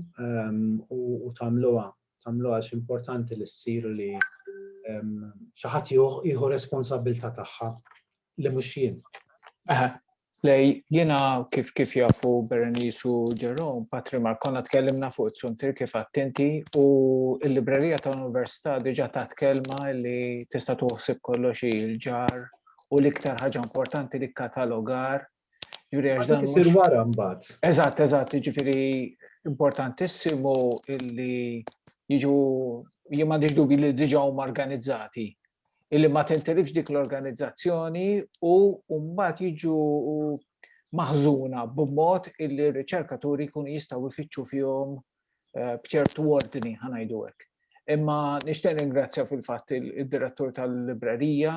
u tamluwa. Tamluwa importanti li s-sir li xaħat jieħu responsabilta tagħha li mhux jien. Lej, jena kif kif jafu Berenice u Jerome, Patri Markona tkellimna fuq it-suntir kif attenti u l-librerija ta' università diġa ta' tkelma li tista' tuħsib kollox il-ġar u l-iktar ħaġa importanti li katalogar juri għax dan. Isir wara mbagħad. Eżatt, eżatt, jiġifieri importantissimu illi jiġu jien m'għandix dubi li diġà huma organizzati illi ma tintilifx dik l-organizzazzjoni u mbagħad jiġu maħżuna b'mod illi r-riċerkaturi jkunu jistgħu jfittxu fihom eh, b'ċertu ordni ħa ngħidu hekk. Imma nixtieq ringrazzja fil-fatt il-direttur tal-librerija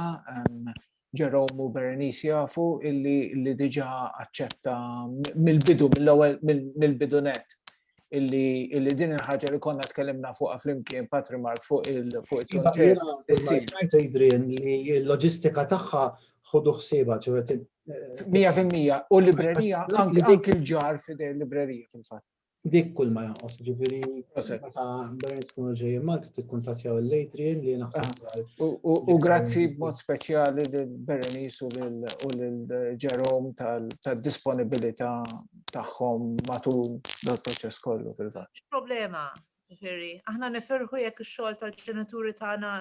Jerome u Berenice jafu illi li diġa aċċetta mill-bidu, mill-ewwel mill-bidu net illi illi din il-ħaġa li konna tkellimna fuqha flimkien Patri Mark fuq il-frontier. Smajtu jidrin li l-loġistika tagħha ħodu ħsieba ċevet. Mija fil-mija u l-librerija anki l-ġar fidej l-librerija fil-fatt. Dik kull ma jonqos, ġifiri, meta Bernd tkunu ġejjin Malta tikkuntattjaw l-Adrian li naħseb. Ah, u grazzi b'mod speċjali lil Berenice u lil Jerome tal-disponibilità tagħhom matul dal-proċess kollu fil-fatt. Problema, ġifiri, aħna nifirħu jekk ix-xogħol tal-ġenituri tagħna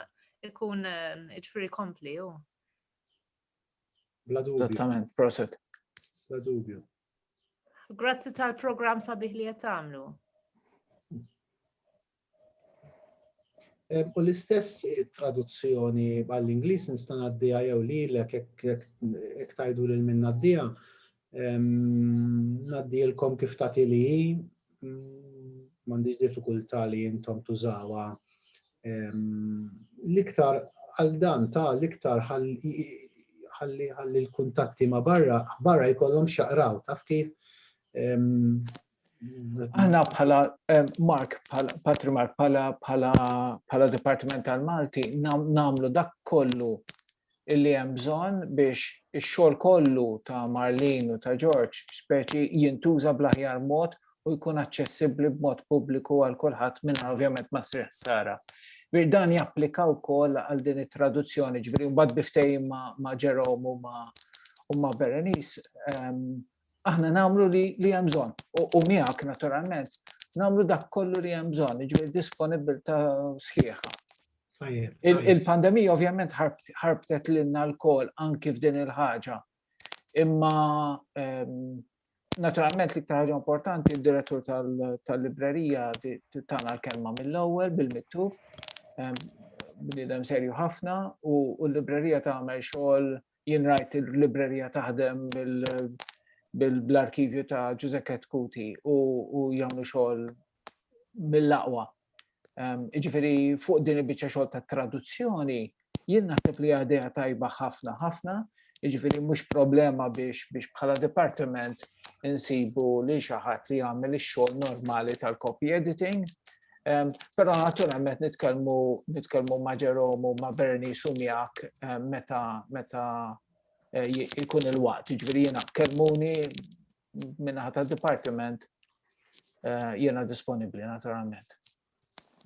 ikun eh, ġifiri kompli, Bla dubju. Esattament, proset. Bla dubju. Grazzi tal-programm sabiħ li qed tagħmlu. U l-istess traduzzjoni għall-Ingliż nista' ngħaddiha jew lilek jekk tajdu lil min ngħaddiha Ngħaddilkom kif tagħti li m'għandix diffikultà li intom tużawha. L-iktar għal dan ta' l-iktar ħalli l-kuntatti ma' barra, barra jkollhom xaqraw, taf kif? Aħna bħala, Mark, Patri Mark, bħala Dipartiment tal-Malti, namlu dak kollu illi hemm bżonn biex ix-xogħol kollu ta' Marlene u ta' George Speci jintuża bl-aħjar mod u jkun aċċessibbli b'mod pubbliku għal kulħadd mingħajr ovvjament ma ssir ħsara. Ġifieri dan japplika wkoll għal din it-traduzzjoni, ġifieri mbagħad bi ftehim ma' Jerome u ma' u ma' Berenice, ehm, aħna nagħmlu li, li hemm bżonn. U, u miegħek naturalment nagħmlu dak kollu li hemm bżonn, jiġifieri disponibilità sħiħa. Il-pandemija ovvjament ħarbtet lilna l-kol anki f'din il-ħaġa. Imma ehm, naturalment li ktar ħaġa importanti d-direttur tal-librerija tana l-kelma mill-ewwel bil-mittub. Ehm, bnidem serju ħafna u l-librerija tagħmel xogħol jien rajt il-librerija taħdem bil-arkivju ta' Giuseppe Kuti u jagħmlu xogħol mill-aqwa Ehm, jiġifieri fuq din il-biċċa xogħol ta' traduzzjoni, jien naħseb li għadeja tajba ħafna ħafna, jiġifieri mhux problema biex biex bħala departiment insibu li xi ħadd li jagħmel ix-xogħol normali tal-copy editing. Ehm, però naturalment nitkellmu nitkellmu ma' Ġerom u ma' Berni Sumjak ehm, meta meta eh, jkun il-waqt, jiġifieri jiena kelmuni minnaħa ta' dipartiment eh, jena disponibli naturalment.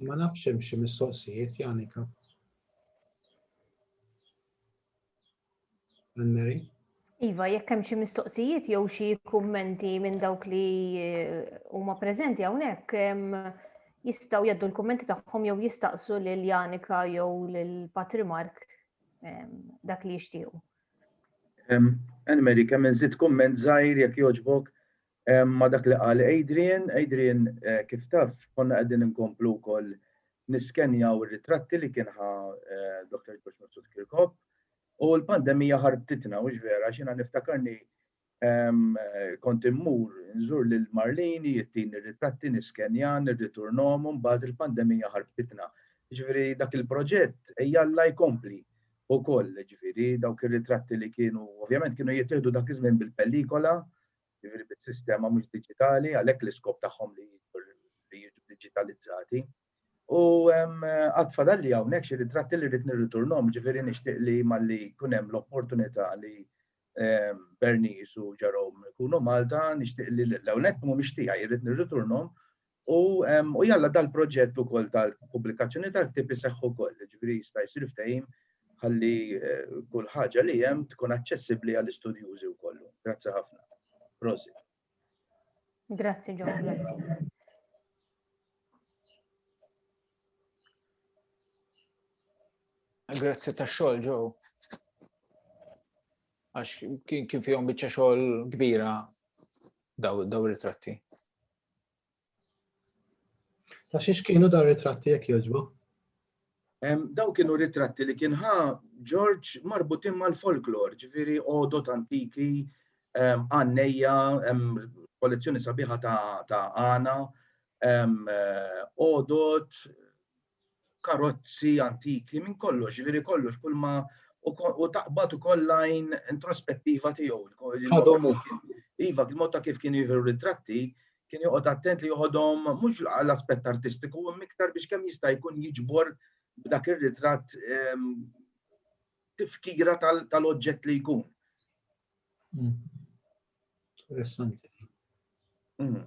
Ma nafx hemm xi mistoqsijiet Janika. Anne Mary? Iva, jekk hemm xi mistoqsijiet jew xi kummenti minn dawk li eh, huma preżenti hawnhekk jistgħu jaddu l-kummenti tagħhom jew jistaqsu lil Janika jew lil Patri Mark dak li jixtiequ. Anne Marie, kemm inżid kumment żgħir jekk jogħġbok ma' dak li qal Adrian. Adrian, kif taf, konna qegħdin inkomplu wkoll niskenjaw ir-ritratti li kien ħa Dottor George Mifsud Kirkop u l-pandemija ħarbtitna, hux vera? Għax jiena niftakarni Kont immur nżur lil Marlene, hi ttini r-ritratti, niskenja, nirriturnhom u mbagħad il-pandemija ħarbtitna. Jiġifieri dak il-proġett ejjalla jkompli wkoll, jiġifieri dawk ir-ritratti li kienu, ovvjament kienu jittieħdu dak iż-żmien bil-pellikola, jiġifieri bis-sistema mhux diġitali, għalhekk l-iskop tagħhom li jiġu diġitalizzati. U għad fadalli hawnhekk xi ritratti li rrid nirriturnhom, jiġifieri nixtieq li malli jkun hemm l-opportunità li Bernice u Jerome ikunu Malta, nixtieq li l-ewwel nett mhumiex tiegħi, irrid nirriturnhom u jalla dal-proġett ukoll tal-pubblikazzjoni tal-ktieb iseħħ ukoll, jiġifieri jista' jsir ftehim ħalli kull ħaġa li hemm tkun aċċessibbli għall-istudjużi wkoll. Grazzi ħafna. Prosit. Grazzi, John, grazzi. Grazzi ta' xogħol, Joe. Għax kien kien fihom biċċa xogħol kbira daw ritratti. Ta' xiex kienu dar ritratti jekk jogħġbu? Daw kienu ritratti li kien ħa George marbutin mal-folklor, ġifiri odot antiki, għanneja, kollezzjoni sabiħa ta' għana, odot, karozzi antiki, minn kollox, jiġifieri kollox kull ma u taqbad ukoll lajn introspettiva tiegħu. Iva, il-mod ta' kif kien jieħu ritratti, kien joqgħod attent li joħodhom mhux l-aspett artistiku, miktar biex kemm jista' jkun jiġbor b'dak ir-ritratt ehm, tifkira tal-oġġett li jkun. Hmm. Interessanti. Mm.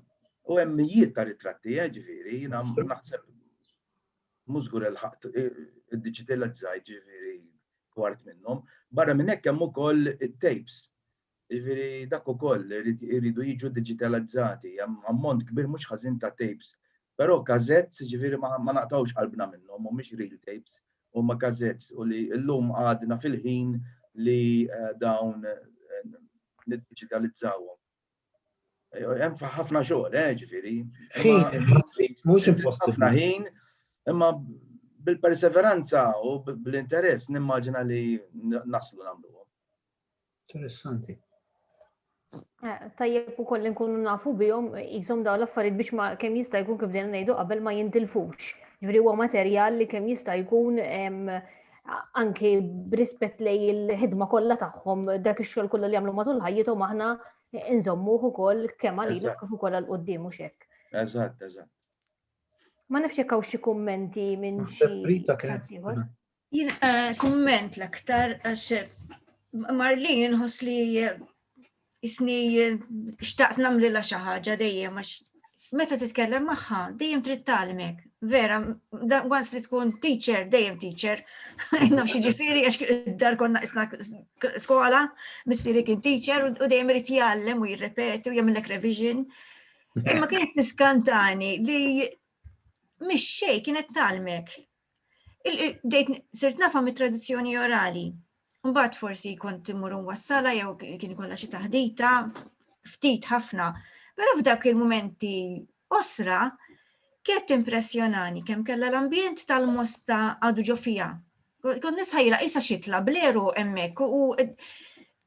U hemm mijiet ta' ritratti, eh, ġifieri, jiena naħseb mużgur il-ħaqt id-digitalizzaj ġifieri kwart minnhom. Barra minn hekk hemm ukoll it-tapes. Ġifieri dak ukoll iridu jiġu digitalizzati, hemm ammont kbir mhux ħażin ta' tapes Però cassettes, jiġifieri ma ma naqtgħux qalbna minnhom, mhumiex reel tapes, huma cassettes u li llum għadna fil-ħin li dawn niddiġitalizzawhom. Hemm ħafna xogħol, eh, jiġifieri. Ħin imma trid, mhux impossibbli. Ħafna ħin, imma bil-perseveranza u bl-interess nimmaġina li naslu nagħmluhom. Interessanti. Eh, tajjeb u koll nkunu nafu bihom jisom daw l-affarijiet biex ma kemm jista' jkun kif dejna ngħidu qabel ma jintilfux. Ġifieri huwa materjal li kemm jista' jkun anke b'rispett lej il-ħidma kollha tagħhom dak ix-xogħol kollu li jagħmlu matul ħajjithom aħna nżommuh ukoll kemm għalina kif ukoll għal quddiem u xek. Eżatt, eżatt. Ma nafx jekk hawn xi kummenti minn xi. Rita kienet Jien eh, kumment l-aktar għax eh, Marlin ħos li eh, isni xtaqt namli la xi ħaġa dejjem għax meta titkellem magħha dejjem trid tagħlimek. Vera, once li tkun teacher, dejjem teacher. Naf xi ġifieri għax dar konna isna skola, missieri kien teacher u dejjem irid jgħallem u jirrepeti u jagħmellek revision. Imma kienet tiskantani li mhix xejn kienet talmek Dejt sirt nafa mit tradizzjoni orali. Mbagħad forsi kont immur wassala jew kien ikollha xi taħdita ftit ħafna. Però f'dak il-momenti osra kienet impressjonani kemm kellha l-ambjent tal-mosta għadu ġo fija. Kont nisħajla isa xitla bleru hemmhekk u e,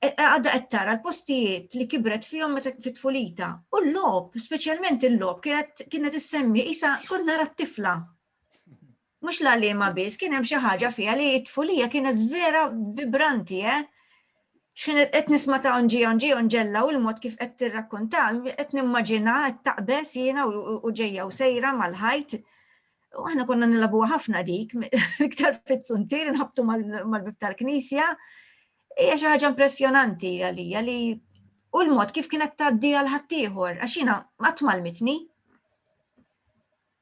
e, għadda qed tara l-postijiet li kibret fihom meta fit-tfulita. U l-lob, speċjalment il-lob, kienet issemmi isa kont nara t-tifla Mhux l-għalliema biss, kien hemm xi ħaġa fiha li t-tfulija kienet vera vibranti, eh? X'kien qed nisma' ta' onġi onġi onġella u l-mod kif qed tirrakkonta, qed nimmaġina qed taqbeż jiena u ġejja u sejra mal-ħajt. U aħna konna nilabuha ħafna dik, iktar fit-suntir nħabtu mal-bib tal-knisja. Hija xi ħaġa impressjonanti għalija li u l-mod kif kienet tgħaddi għal ħaddieħor, għax jiena qatt mal-mitni.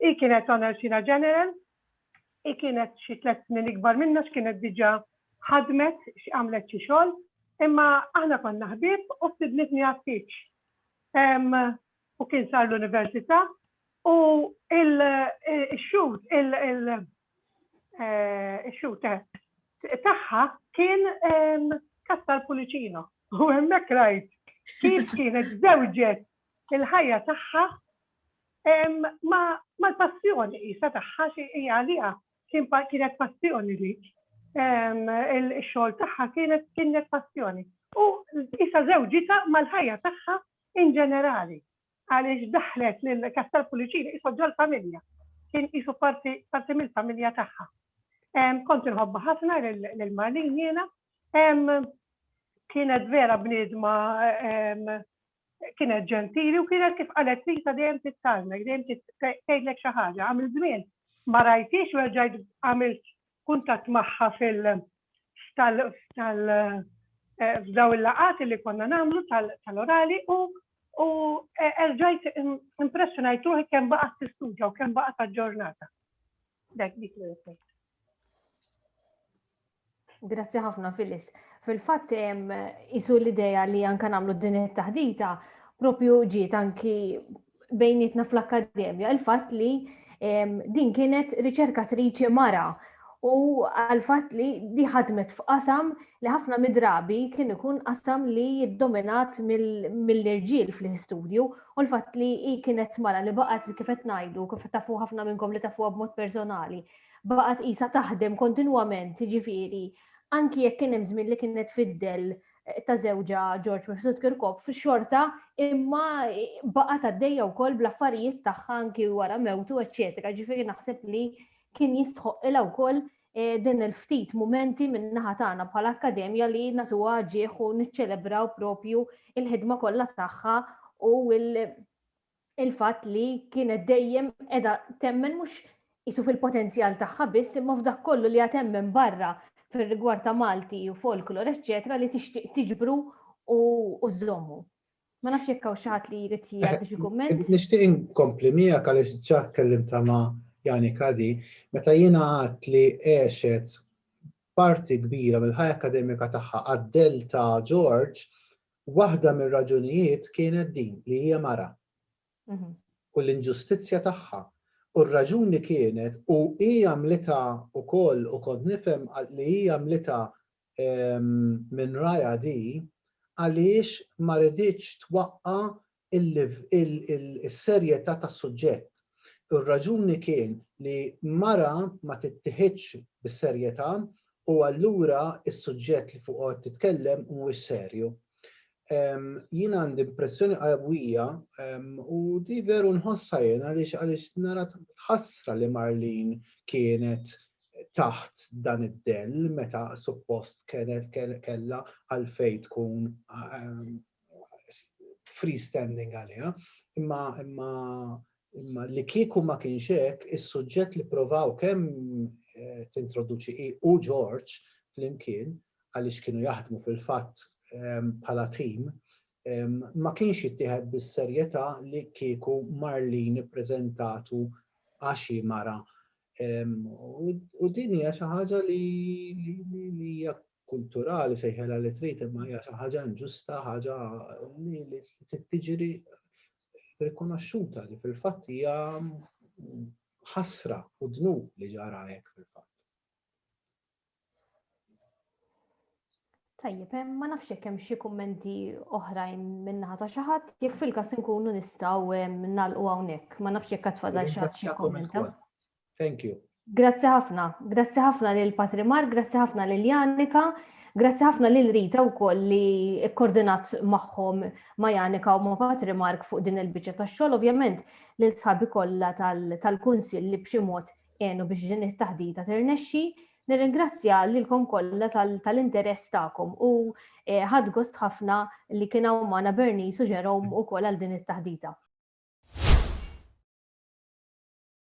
Hi kienet Honor Sira General, hi kienet xi tliet snin ikbar minna x'kienet diġà ħadmet, x'għamlet xi xogħol, imma aħna konna ħbieb u stidnitni għat-tieġ. U kien sar l-università u x-shoot, ix-shoot tagħha kien Castel Pullicino u hemmhekk rajt kif kienet żewġet il-ħajja tagħha mal-passjoni qisha tagħha xi hija għaliha kien kienet passjoni dik. Ix-xogħol tagħha kienet kienet passjoni. U qisha żewġitha mal-ħajja tagħha in ġenerali għaliex daħlet lil Castel Pullicini qisha ġol-familja. Kien qisu parti parti mill-familja tagħha. Kont inħobbha ħafna lil Marlene jiena. Kienet vera bniedma Kienet ġentili u kienet kif qalet Lisa dejjem tittarmek, dejjem tgħidlek xi ħaġa. Għamilt żmien ma rajthiex u reġgħet għamilt kuntatt magħha fil tal tal f'daw il-laqgħat li konna nagħmlu tal-orali u u erġajt impressjonajt ruħi kemm baqgħet tistuġa u kemm baqgħet aġġornata. Dak dik li Grazzi ħafna Phyllis. Fil-fatt isu l-idea li anka nagħmlu din it-taħdita propju ġiet anki bejnietna fl-akkademja il-fatt li din kienet riċerkatriċi mara u għal-fatt li di ħadmet f'qasam li ħafna midrabi kien ikun qasam li jiddominat mill-irġiel fl-istudju u l-fatt li kienet mara li baqgħet kif qed ngħidu kif tafu ħafna minnkom li tafuha b'mod personali baqgħet qisha taħdem kontinwament, jiġifieri anki jekk kien hemm żmien li kienet fid-dell ta' żewġha George Mifsud Kirkop, xorta imma baqgħet għaddejja wkoll bl-affarijiet tagħha anki wara mewtu, eċċetera. Ġifieri naħseb li kien jistħoqqilha wkoll eh, din il-ftit mumenti minn naħa tagħna bħala akkademja li natuha ġieħ u niċċelebraw propju il-ħidma kollha tagħha u il-fatt li kienet dejjem qiegħda temmen mhux qisu fil-potenzjal tagħha biss imma f'dak kollu li hija temmen barra fir-rigward ta' Malti u folklor eċċetera li tixtieq tiġbru u żżommu. Ma nafx jekk hawn xi ħadd li jrid jgħaddi xi kumment. Nixtieq inkompli miegħek għaliex ġa tkellimtha ma' Jani Caddy, meta jiena għedt li għexet parti kbira mill-ħajja akkademika tagħha għad-dell ta' Ġorġ, Waħda mir-raġunijiet kienet din li hija mara u l-inġustizzja tagħha u r-raġuni kienet u hi għamlitha wkoll u kont nifhem li hi għamlitha minn rajha di għaliex ma riditx twaqqa' is-serjetà tas-suġġett. Ir-raġuni kien li mara ma tittiħidx bis-serjetà u allura s-suġġett li fuqu qed titkellem mhuwiex serju. Jien għandi impressjoni qawwija u di veru nħossha jien għaliex għaliex nara ħasra li Marlene kienet taħt dan id-dell meta suppost kellha għalfejn tkun freestanding għaliha, imma imma imma li kieku ma kienx hekk, is-suġġett li provaw kemm eh, tintroduċi hi u George flimkien għaliex kienu jaħdmu fil-fatt ehm, bħala tim, ehm, ma kienx jittieħed bis-serjetà li kieku Marlin ippreżentatu għax mara. Ehm, u din hija xi ħaġa li hija kulturali sejħilha li trid imma hija xi ħaġa inġusta, ħaġa li trid tiġri rikonoxxuta li fil-fatt hija ħasra u dnub li ġara hekk fil-fatt. Tajjeb, eh, ma nafx jekk hemm xi kummenti oħrajn minnaħa ta' xi ħadd, jekk fil-każ inkunu nistgħu eh, nagħlqu hawnhekk, ma nafx jekk qed fadal xi ħadd xi kummenta. Thank you. Grazzi ħafna, grazzi ħafna lil Patrimar, grazzi ħafna lil Janika, grazzi ħafna lil Rita wkoll li koordinat magħhom ma' Janika u ma' Patrimark fuq din il-biċċa tax-xogħol, ovvjament lil sħabi kollha tal-kunsill li b'xi mod għenu biex din it-taħdita tirnexxi. Nirringrazzja lilkom kollha tal-interess tagħkom u eh, ħadd gost ħafna li kien hawn magħna Bernice u Jerome ukoll għal din it-taħdita.